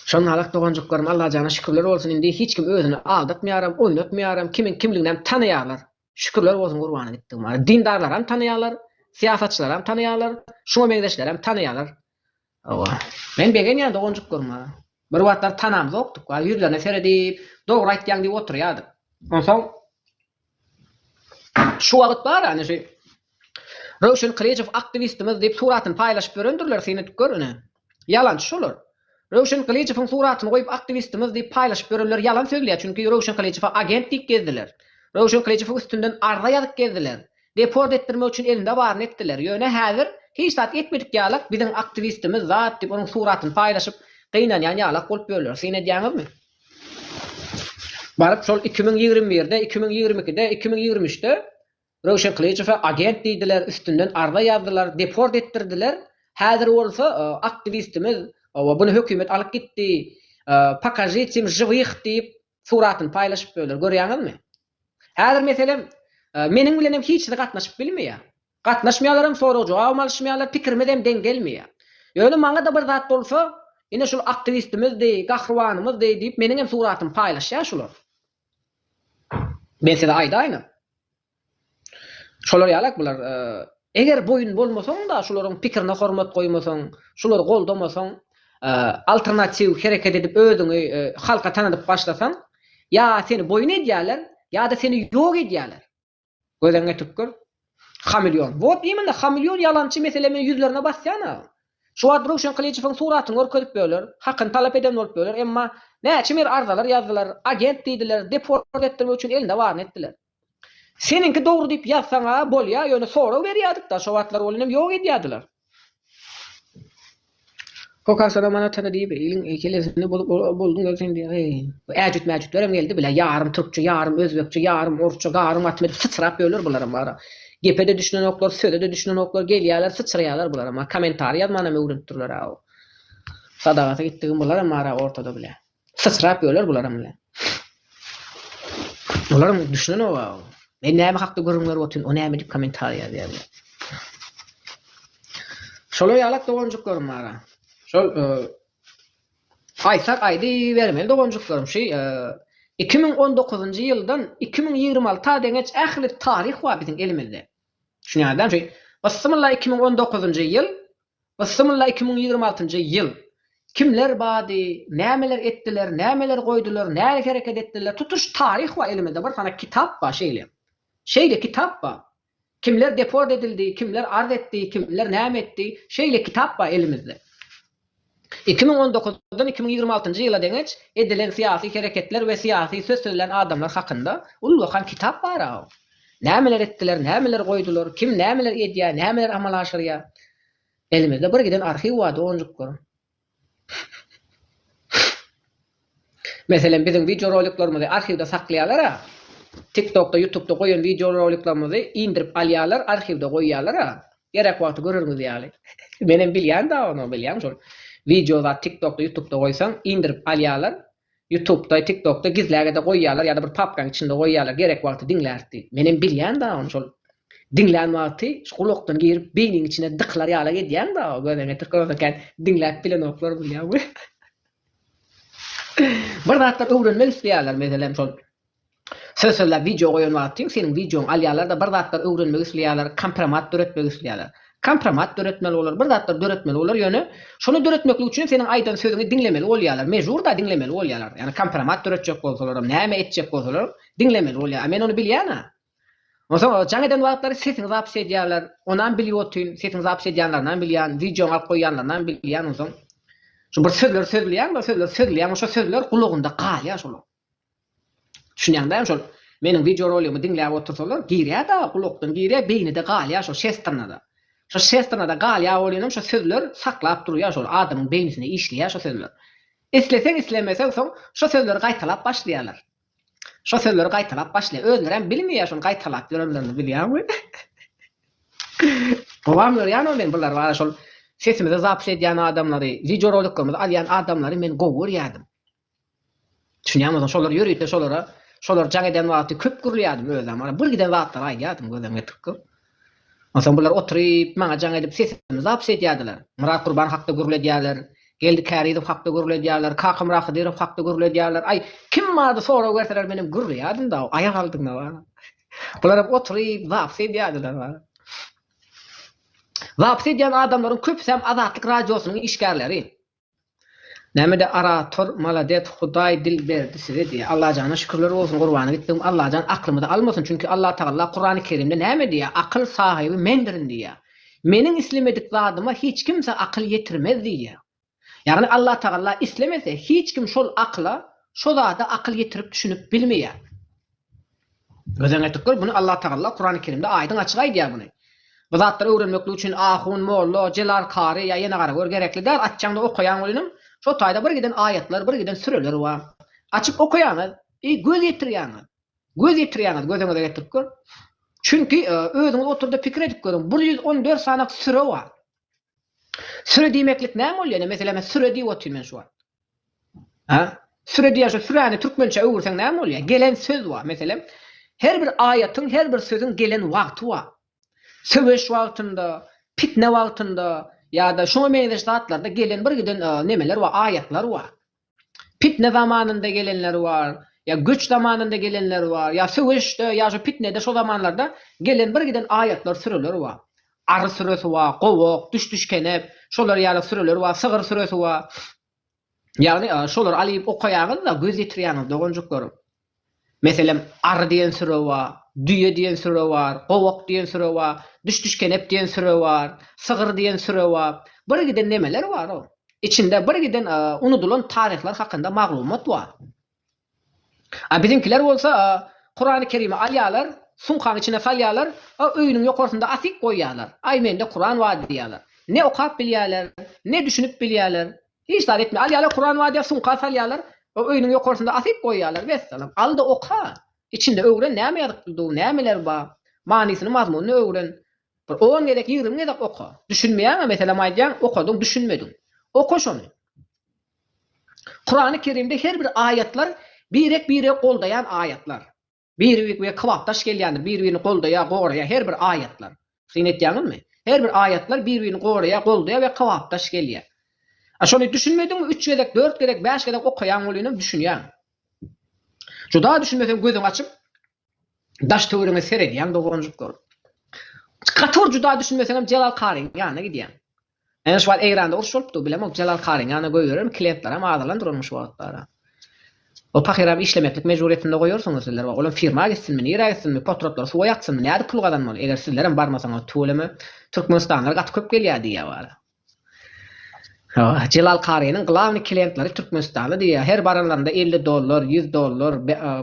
A: Şonda-alak doganjyklarym Allajana şükürler bolsun indi hiç kim özüni aldatmaýaram, oýnatmaýaram, kimiň kimliginem tanaýarlar. Şükürler bolsun gurbana gitdigime. Dindarlaram tanaýarlar, syýasatçylaram tanaýarlar, şuňa meňzeşlerem tanaýarlar. Hawa. Men begenýän doganjyklaryma. Bir wagtlar tanamzokdyk, a ýüzlerine seredip, dogry aýtýaň diýip oturýardyk. Onsoň şu wagt bar ene şu Röwşen Kylyjow aktiwistimiz diýip suratyny paýlaşyp ýörendirler, seni edip gör ene. Ýalançy şolar. Röwşen Gylyjowyň suratyny goýup aktiwistimiz diýip paýlaşyp ýörenler ýalan sözleýär çünki Röwşen Gylyjowa agent diýip gezdiler. Röwşen Gylyjowyň üstünden arza ýazyp gezdiler. Deport etdirmek üçin elinde baryny etdiler. Ýöne häzir hiç zat etmedik ýalak biziň aktiwistimiz zat diýip onuň suratyny paýlaşyp gynanýan ýalak bolup ýörler. Syn edýäňizmi? Baryp şol iki müň ýigrimi birde, iki müň ýigrimi ikide, iki müň ýigrimi üçde Röwşen Kylyjowa agent diýdiler, üstünden arza ýazdylar, deport etdirdiler. Häzir bolsa aktiwistimiz we buny hökümet alyp gitdi, pokažit im žywih diýip suratyny paýlaşyp ýörler, görýäňizmi? Häzir meselem meniň bilenem hiç zat gatnaşyp bilmeýär. Gatnaşmaýarlaram, sorag-jogabam alyşmaýarlar, pikirimiz hem deň gelmeýär. Ýöne maňa-da bir zat bolsa, ine şul aktiwistimizdi, gahrybanymyzdy diýip meniňem suratymy paýlaşýar şular. Men size aýdaýynam. Şolar ýalak bular. Eger boýun bolmasaň-da, şularyň pikirine hormat goýmasaň, şulary goldamasaň, alternatiw hereket edip özüňi halka tanadyp başlasaň, ýa seni boýun edýärler, ýa-da seni ýok edýärler. Gözeňe tüpgür. Hameleon. Wot imенно hameleon ýalançy mesele men ýüzlerine basýana. Şu wagt Röwşen Kylyjowyň suratyny görkezip böler, hakyny talap eden bolup böler emma näçe mer arzalar ýazdylar, agent diýdiler, deport etdirmek üçin elinde baryny etdiler. Seniňki dogry diýip ýazsaňa bolýa ýöne sorag berýädikda şo wagtlar ol inem ýok edýädiler. Kokar soram ana tana diýip iliň kellesini bozup bolduňda sen diýýär heý. Bu äjüt-mäjütlerem geldi bile ýarym türkçe ýarym özbekçe ýarym orsça garym atym edip syçrap ýörler bularam bara. Gepe-de düşünenoklar söze-de düşünenoklar gelýärler syçraýarlar bularam bara kommentariý ýazmanam öwrenipdirler-ä o. Sadagata gitdigim bularam bara ortada bile. Syçrap öler bularam bile. Bularam düşünenok a. Men näme hakda gürrüň berip otyryn, o näme diýip kommentariýa ýazýar bile. Şolar ýalak doganjyklarym bar a. Şol aýtsak aýdybermeli doganjyklarym şu 2019-njy ýyldan 2026-a deňeç ähli taryh bar biziň elimizde. Düşünýäňizmi? Bismillah 2019-njy ýyl Bsmylla iki müň ýigrimi altynjy ýyl Kimler bady, nämeler etdiler, nämeler goýdular, nälik hereket etdiler, tutuş taryh bar elimizde bir sanak kitap bar şeýle. Şeýle kitap bar. Kimler deport edildi, kimler arz etdi, kimler näme etdi, şeýle kitap bar elimizde. Iki müň on dokuzdan iki müň ýigrimi altynjy ýyla deňeç edilen syýasy hereketler we syýasy söz sözlän adamlar hakynda ullakan kitap bar-a. Nämeler etdiler, nämeler goýdular, kim nämeler edýär, nämeler amala aşyrýar. Elimizde bir giden arhiw bar doganjyklarym. Meselem biziň wideoroliklerimizi arhiwde saklaýarlar-a. Tiktokda, ýutubda goýan wideoroliklerimizi indirip alýarlar, arhiwde goýýarlar-a. Gerek wagty görerňiz ýaly. Menem bilýän-dä ony, bilýäň şol. Wideo zat tiktokda, ýutubda goýsaň, indirip alýarlar, Ýutubda, Tiktokda gizläge-de goýýarlar ýa-da bir papkaň içinde goýýarlar, gerek wagty diňläris diýip. Menem bilýän-dä ony şol diňlän wagty şu gulakdan girip beýniň içine dykylar ýalak edýäň-dä o gözeňe tyrkyrasa kän diňläp bilenoklar bolýar we bir zatlar öwrenmek isleýärler meselem şol Söz sözläp wideo goýan wagtyň seniň wideoňy alýarlarda bir zatlar öwrenmek isleýärler kompromat döretmek isleýärler. Kompromat döretmeli bolar bir zatlar döretmeli bolar ýöne şony döretmeklik üçin seniň aýdan sözüňi diňlemeli bolýarlar mejburda diňlemeli bolýarlar ýagny kompromat döretjek bolsalaram näme etjek bolsalaram diňlemeli bolýar a men ony bilýän a onsoň jaň eden wagtlary sesiňi zapis edýärler onam bilip otyn sesiňi zapis edýänlerinam bilýän wideoňy alyp goýýanlarynam bilýän onsoň şu bir sözler sözleýän bir sözler sözleýän şo sözler gulagynda galýar şolar Düşünýäň dämi şol meniň wideoroligimi diňläp otursalar girýäda gulakdan girýä beýnide galýa şo şestrnada. Şo şestrnada galýa bolynym şo sözler saklap durýa şol adamyň beýnisine işleýä şo sözler. Isleseň islemeseň soň şo sözleri gaýtalap başlaýalar. Şo sözleri gaýtalap başlaýa özlerem bilmeýä şony gaýtalap ýörenlerini bilýäňmi. Gowam görýänoo men bular bar şol sesimizi zapis edýän adamlary wideoroliklerimizi alýan adamlary men gowy görýädim. Düşünýäňmi özüň şolar ýörite şolara şolar jaň eden wagty köp gürleýärdim özem bar bir giden zatlary aýdýardym gözüm ýetik köp. Onsoň bular oturyp maňa jaň edip sesimi zapis edýärdiler. Myrat Gurban hakda gürledýärler. Geldi Kärizow hakda gürledýärler. Kakamyrat Hydyrow hakda gürledýärler. Aý kim bardy sorag berseler menem gürleýärdim da aýak aldynda bar. Bular hem oturyp zapis edýärdiler bar. Zapis edýän adamlaryň köpüsem Azatlyk radiosynyň işgärleri. Nämede arator malades hudaý dil berdi size diýýär Allajana şükürler bolsun gurbana gitdigim Allajan aklymyzy almasyn çünki Allatagalla kurany kerimde näme diýýär akyl sahyby mendirin diýýär meniň islemedik zadyma hiç kimse akyl ýetirmez diýýär ýagny Allatagalla islemese hiç kim şol akyla şo zada akyl ýetirip düşünip bilmeýär. Gözeň etikler muny Allah Tagalla Kurany Kerimde aýdyň açyk aýdýar muny. Bu zatlary öwrenmeklik üçin ahun, molla, jelar, kary ýa ýene garagör gerekli däl açjaňda okaýaň welinem şo taýda bir giden aýatlar bir giden süreler bar. Açyp okaýaňyz i göz ýetirýaňiz. Göz ýetirýaňiz gözeňize getiripgör. Çünki özüňiz oturda pikir edip görüň bir ýüz on dört sanak süre bar. Süre diýmeklik näme bolýar ine meselem süre diýip otyryn men şu wagt. Hä? Süre diýen şu süräni türkmençä öwürseň näme bolýar? Gelen söz bar. Meselem, her bir aýatyň, her bir sözüň gelen wagty bar. Söweş wagtynda, pitne wagtynda ýa-da şuňa meňzeş zatlarda gelen bir giden nemeler bar, aýatlar bar. Pitne zamanynda gelenleri bar, ýa göç zamanynda gelenleri bar, ýa söweşde, ýa şu pitnede, şu zamanlarda gelen bir giden aýatlar, süreler bar. Ary sürüsi bar, gowak, düş-düşkenek, şolar ýaly sürüler bar, sygyr sürüsi bar. Ýagny, şolary alyp okaýaňyz-da, göz ýetirýäňiz, doganjyklarym. Meselem, ary diýen süre bar, düýe diýen süre bar, gowak diýen süre bar, düş-düşkenek diýen süre bar, sygyr diýen süre bar. Birgiden nemeler bar-ow. Içinde birgiden unudylan taryhlar hakynda maglumat bar. A biziňkiler bolsa, Kurany Kerimi alýarlar, sumkaň içine salýarlar, öýüniň ýokarsynda asyp goýýarlar. Aý mende Kuran bar diýýärler. Ne okap bilýärler, ne düşünip bilýärler. Hiç zat etmeýär. Alýarlar Kuran bar diýip sumka salýarlar, öýüniň ýokarsynda asyp goýýarlar. Wessalam. Al-da oka. Içinde öwren näme ýazypdyr dur, nämeler bar. Manysyny, mazmunyny öwren. Bir on gezek, ýigrimi gezek oka. Düşünmeýäňä meselem aýdýaň, okadyň, düşünmediň. Oka şony. Kurany Kerimde her bir aýatlar birek biregi goldaýan aýatlar. Biri birigiä kybapdaş gelýändir, biri birini goldaýar, goraýar her bir aýatlar. Syn etýäňizmi? Her bir aýatlar biri birini goraýar, goldaýar we kybapdaş gelýär. A şony düşünmediňmi üç gezek, dört gezek, bäş gezek okaýaň welinem düşünýäň. Juda düşünmeseň gözüňi açyp daş-töweregiňe seredýäň doganjyklar. Gaty bir juda düşünmeseňem Jelal karyň ýanyna gidýäň. Ýöne şu wagt Eýranda uruş bolupdyr, bilemok bu Jelal karyň ýanyna goýberermi, kliýentlerem azalan duranyň şu wagtlara. Ol pahyram işlemeklik mejburyýetinde goýarsyňyz sizler wagt, olam firma gitsinmi, nirä gitsinmi, potratlar suwa ýaksynmy, nädip pul gazanmaly, eger sizlerem barmasaňyz tüweleme türkmenistanlylar gaty köp gelýär diýýär wara. Hawa, Jelal karynyň glawny kliýentleri türkmenistanly diýýär, her baranlarynda elli dollar, ýüz dollar,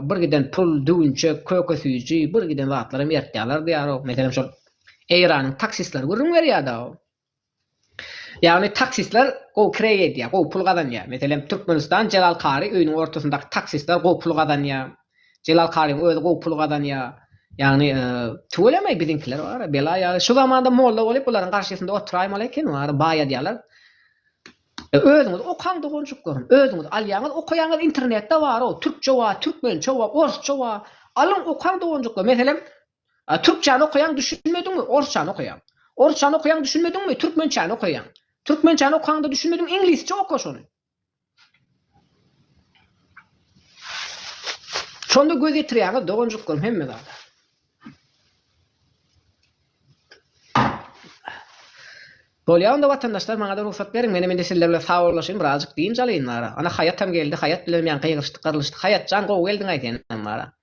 A: bir giden pul, düwünçek, köke süýji, bir giden zatlaram ertýärler diýýär-ow, meselem şol Eýranyň taksistleri gürrüň berýär-de-ow. Ýagny taksistler gowy kireý edýär, gowy pul gazanýar. Meselem, Türkmenistan Jelal Kary öýüniň ortasyndaky taksistler gowy pul gazanýar. Jelal Karyň özi gowy pul gazanýar. Ýagny, tüweleme biziňkiler bar-a, bela ýaly. Şu zamanda molla bolup bularyň garşysynda oturaýmaly eken, wara, baýadýarlar. Özüňiz okaň doganjyklarym, özüňiz alýaňyz, okaýaňyz, internetde bar-ow, türkçe bar, türkmençe bar, orsça bar. Alyň, okaň doganjyklar. Meselem, A türkçäni okaýaň düşünmediňmi, orsçany okaýaň. Orsçany okaýaň düşünmediňmi, türkmençäni okaýaň. Türkmençäni okaňda düşünmediň, iňlisçe oka şony. Şonda göz ýetirýäňiz doganjyklarym hemme zada. Bolýa onda watandaşlar maňa-da rugsat beriň, menem indi sizler bilen sawollaşaýyn, birazjyk dynç alaýyn wara. Ana Haýatam geldi, Haýat bilenem ýaňky ýygryşdyk, gyrlyşdyk. Haýatjan gowy geldiň-aý senem wara.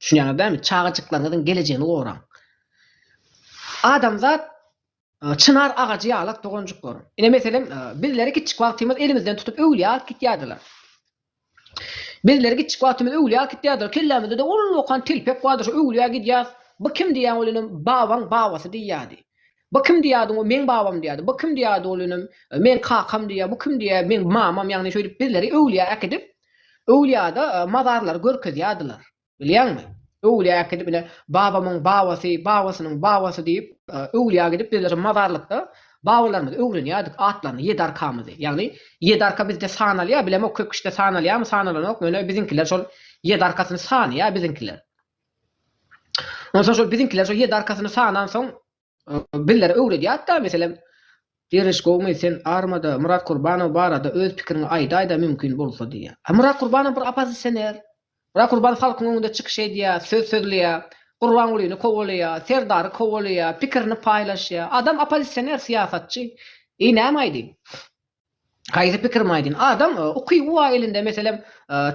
A: Düşünýäňiz dämi? Çagajyklaryňyzyň gelejegini goraň. Adamzat çynar agajy ýalak doganjyklarym. Ine meselem, bizleri kiçjik wagtymyz elimizden tutup öwlüýä alyp gitýärdiler. Bizleri kiçjik wagtymyz öwlüýä alyp gitýärdiler. Kellämizde-de ol okan telpek bardy, şu öwlüýä gidýäs. Bu kim diýýän ol inem, babaň babasy diýýärdi. Bu kim diýýärdiň, o meň babam diýýärdi. Bu kim diýýärdi, ol inem meň kakam diýýär. Bu kim diýýär, meň mamam, ýagny şeýdip bizleri öwlüýä äkidip, öwlüýäde mazarlary görkezýärdiler. Bilýäňmi? Öwlüýä äkidip ine babamyň babasy, babasynyň babasy diýip, öwlüýä gidip bizleri mazarlykda babalarymyzy öwrenýärdik, atlaryny, ýedi arkamyzy. Ýagny ýedi arka bizde sanalýar, bilemok köp kişide sanalýarmy, sanalanokmy, ine biziňkiler şol ýedi arkasyny sanaýar biziňkiler. Onsoň şol biziňkiler şol ýedi arkasyny sanansoň bizlere öwredýärdi-da, meselem, Derwiş gowumy, sen armada Myrat Kurbanow barada öz pikiriňi aýdaýda mümkin bolsa diýýär. A Myrat Kurbanow bir oppozisioner. Myrat Kurbanow halkyň öňünde çykyş edýär, söz sözleýär, Gurbangulyny kowalaýar, Serdary kowalaýar, pikirini paýlaşýar. Adam oppozisioner, syýasatçy. Eý näme aýdyň? Haýsy pikirim aýdyn. Adam uky uwa elinde meselem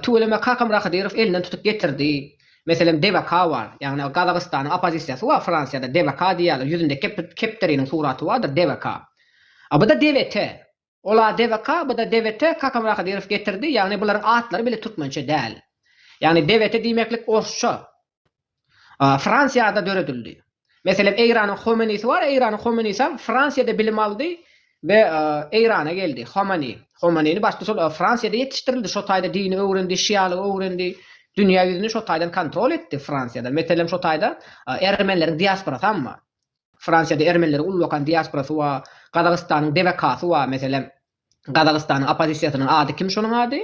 A: tüweleme kakam Rahydyrow elinden tutup getirdi. Meselem DBK bar. Ýagny Gazagystanyň opozisiýasy bar Fransiýada DBK diýýärler ýüzünde kepderiniň suraty bardyr DBK. A bu-da DWT. Ol a DBK bu-da DWT kakam Rahydyrow getirdi ýagny bularyň atlary bile türkmençe däl. Ýagny DWT diýmeklik orsça. Fransiýada döredildi. Meselem Eýranyň Homenisi bar, Eýranyň Homenisem Fransiýada bilim aldy we Eýrana geldi. Homeni. Homenini başda şol Fransiýada ýetişdirildi, şo taýda dini öwrendi, şialygy öwrendi, dünýä ýüzüni şo taýdan kontrol etdi Fransiýada. Meselem şo taýda ermenileriň diasporasam bar. Fransiýada ermenileriň uly bakan diasporasy bar, Gazagystanyň DWK-sy bar meselem. Gazagystanyň oppozisiýasynyň ady kim şonuň ady?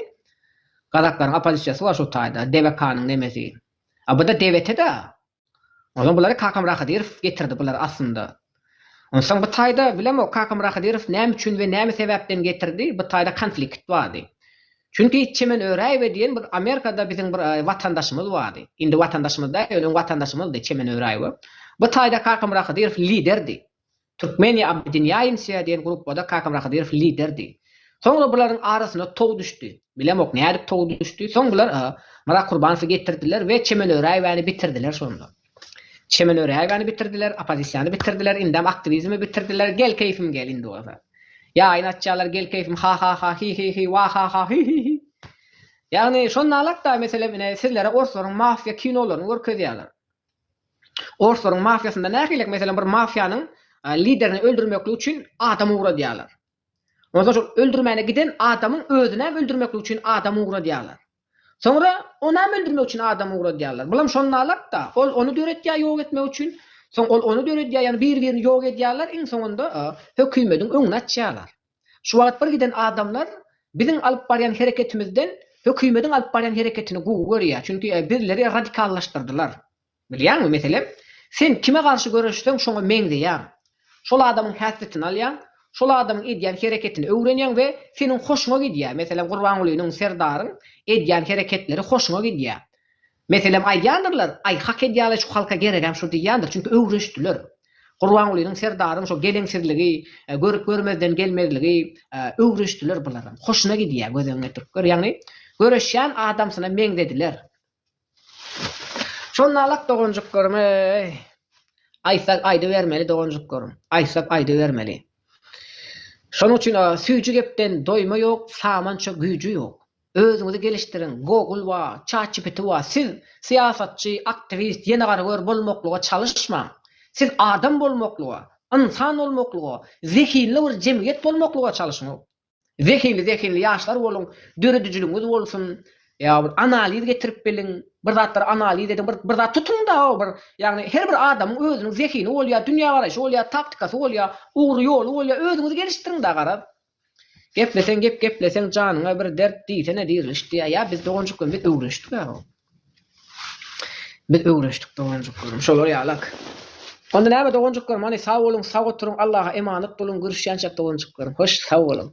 A: Gazaklaryň oppozisiýasy bar şu taýda, DVK-nyň nemesi. A bu-da DVT-da. Onsoň bulary Kakam Rahydyrow getirdi bular aslynda. Onsoň bu taýda bilemok Kakam Rahydyrow näme üçin we näme sebäpden getirdi, bu taýda konflikt bardy. Çünki Çemen Öräýewe diýen bir Amerikada biziň bir watandaşymyz bardy. Indi watandaşymyz däl, ýöne öň watandaşymyzdy Çemen Öräýewe. Bu taýda Kakam Rahydyrow liderdi. Türkmeniýa Abydinýaýinsiýa diýen gruppada Kakam Rahydyrow liderdi. Soňra bularyň arasyna tow düşdi. Bilemok, nädip tow düşdi. Soň bular Myrat Kurbanowy getirdiler we Çemen Öräýewäni bitirdiler şonda. Çemen Öräýewäni bitirdiler, oppozisiýany bitirdiler, indem aktiwizmi bitirdiler, gel keýfim gel indi bolsa. Ýaýyny açýarlar, gel keýfim ha-ha-ha, hi-hi-hi, wa-ha-ha, hi-hi-hi. Ýagny şonda alat-da, meselem, ine, sizlere orslaryň mafiýa kinolaryny görkezýärler. Orslaryň mafiýasynda nähililik, meselem bir mafiýanyň liderini öldürmeklik üçin adam ugradýarlar. Ondan soň şol öldürmäne giden adamyň özünem öldürmeklik üçin adam ugradýarlar. Soňra onam öldürmek üçin adam ugradýarlar. Bulam şondalark-da, ol ony döretýär ýok etmek üçin, soň ol ony döredýär, ýagny bir-birini ýok edýärler, iň soňunda hökümediň öňüni açýarlar. Şu wagt bir giden adamlar biziň alyp barýan hereketimizden hökümediň alyp barýan hereketini gowy görýär, çünki bizleri radikallaşdyrdylar. Bilýäňmi, meselem, sen kime garşy göreşseň şoňa meňzeýäň. Şol adamyň häsletini alýaň, şol adamyň edýän hereketini öwrenýäň we seniň hoşuňa gidýär. Meselem, Gurbangulynyň, Serdaryň edýän hereketleri hoşuňa gidýär. Meselem, aýdýandyrlar, Aý, hak edýärler, şu halka geregem şu diýýändir, çünki öwrenişdiler. Gurbangulynyň, Serdaryň şo geleňsizligi, görüp-görmezden gelmezligi, öwrenişdiler bularam. Hoşuna gidýär, göz öňüne getirip gör. Ýagny, göreşýän adamsyna meňzediler. Şonda-lak doganjyklarym, eý, aýtsak aýdybermeli doganjyklarym, aýtsak aýdybermeli. Şonuň üçin, Süýji gepden doýma ýok, samança güýji ýok. Özüňizi gelişdiriň, Google bar, ChatGPT bar, siz syýasatçy, aktiwist, ýene gara gör bolmaklyga çalyşmaň. Siz adam bolmaklyga, ynsan bolmaklyga, zehinli bir jemgyýet bolmaklyga çalyşyň. Zehinli zehinli ýaşlar boluň, döredijiligiňiz bolsun, ýa bir analiz getirip geliň, bir zatlary analiz ediň, bir bir zat tutuň-da, bir ýagny her bir adamyň özüniň zehini bolýar, dünýägaraýşy bolýar, taktikasy bolýar, ugry ýoly bolýar, özüňizi gelişdiriň-da garaz. Gepleseň gep gepleseň janyňa bir dert diýsene diriliş diýýä ýa biz doganjyk bilen biz öwrenişdik ýa o. Biz öwrenişdik doganjyk bilen şolar ýalak. Onda näme doganjyklarym hany sag boluň sag oturyň Allaha emanet boluň görüşýänçäk doganjyklarym hoş sag boluň.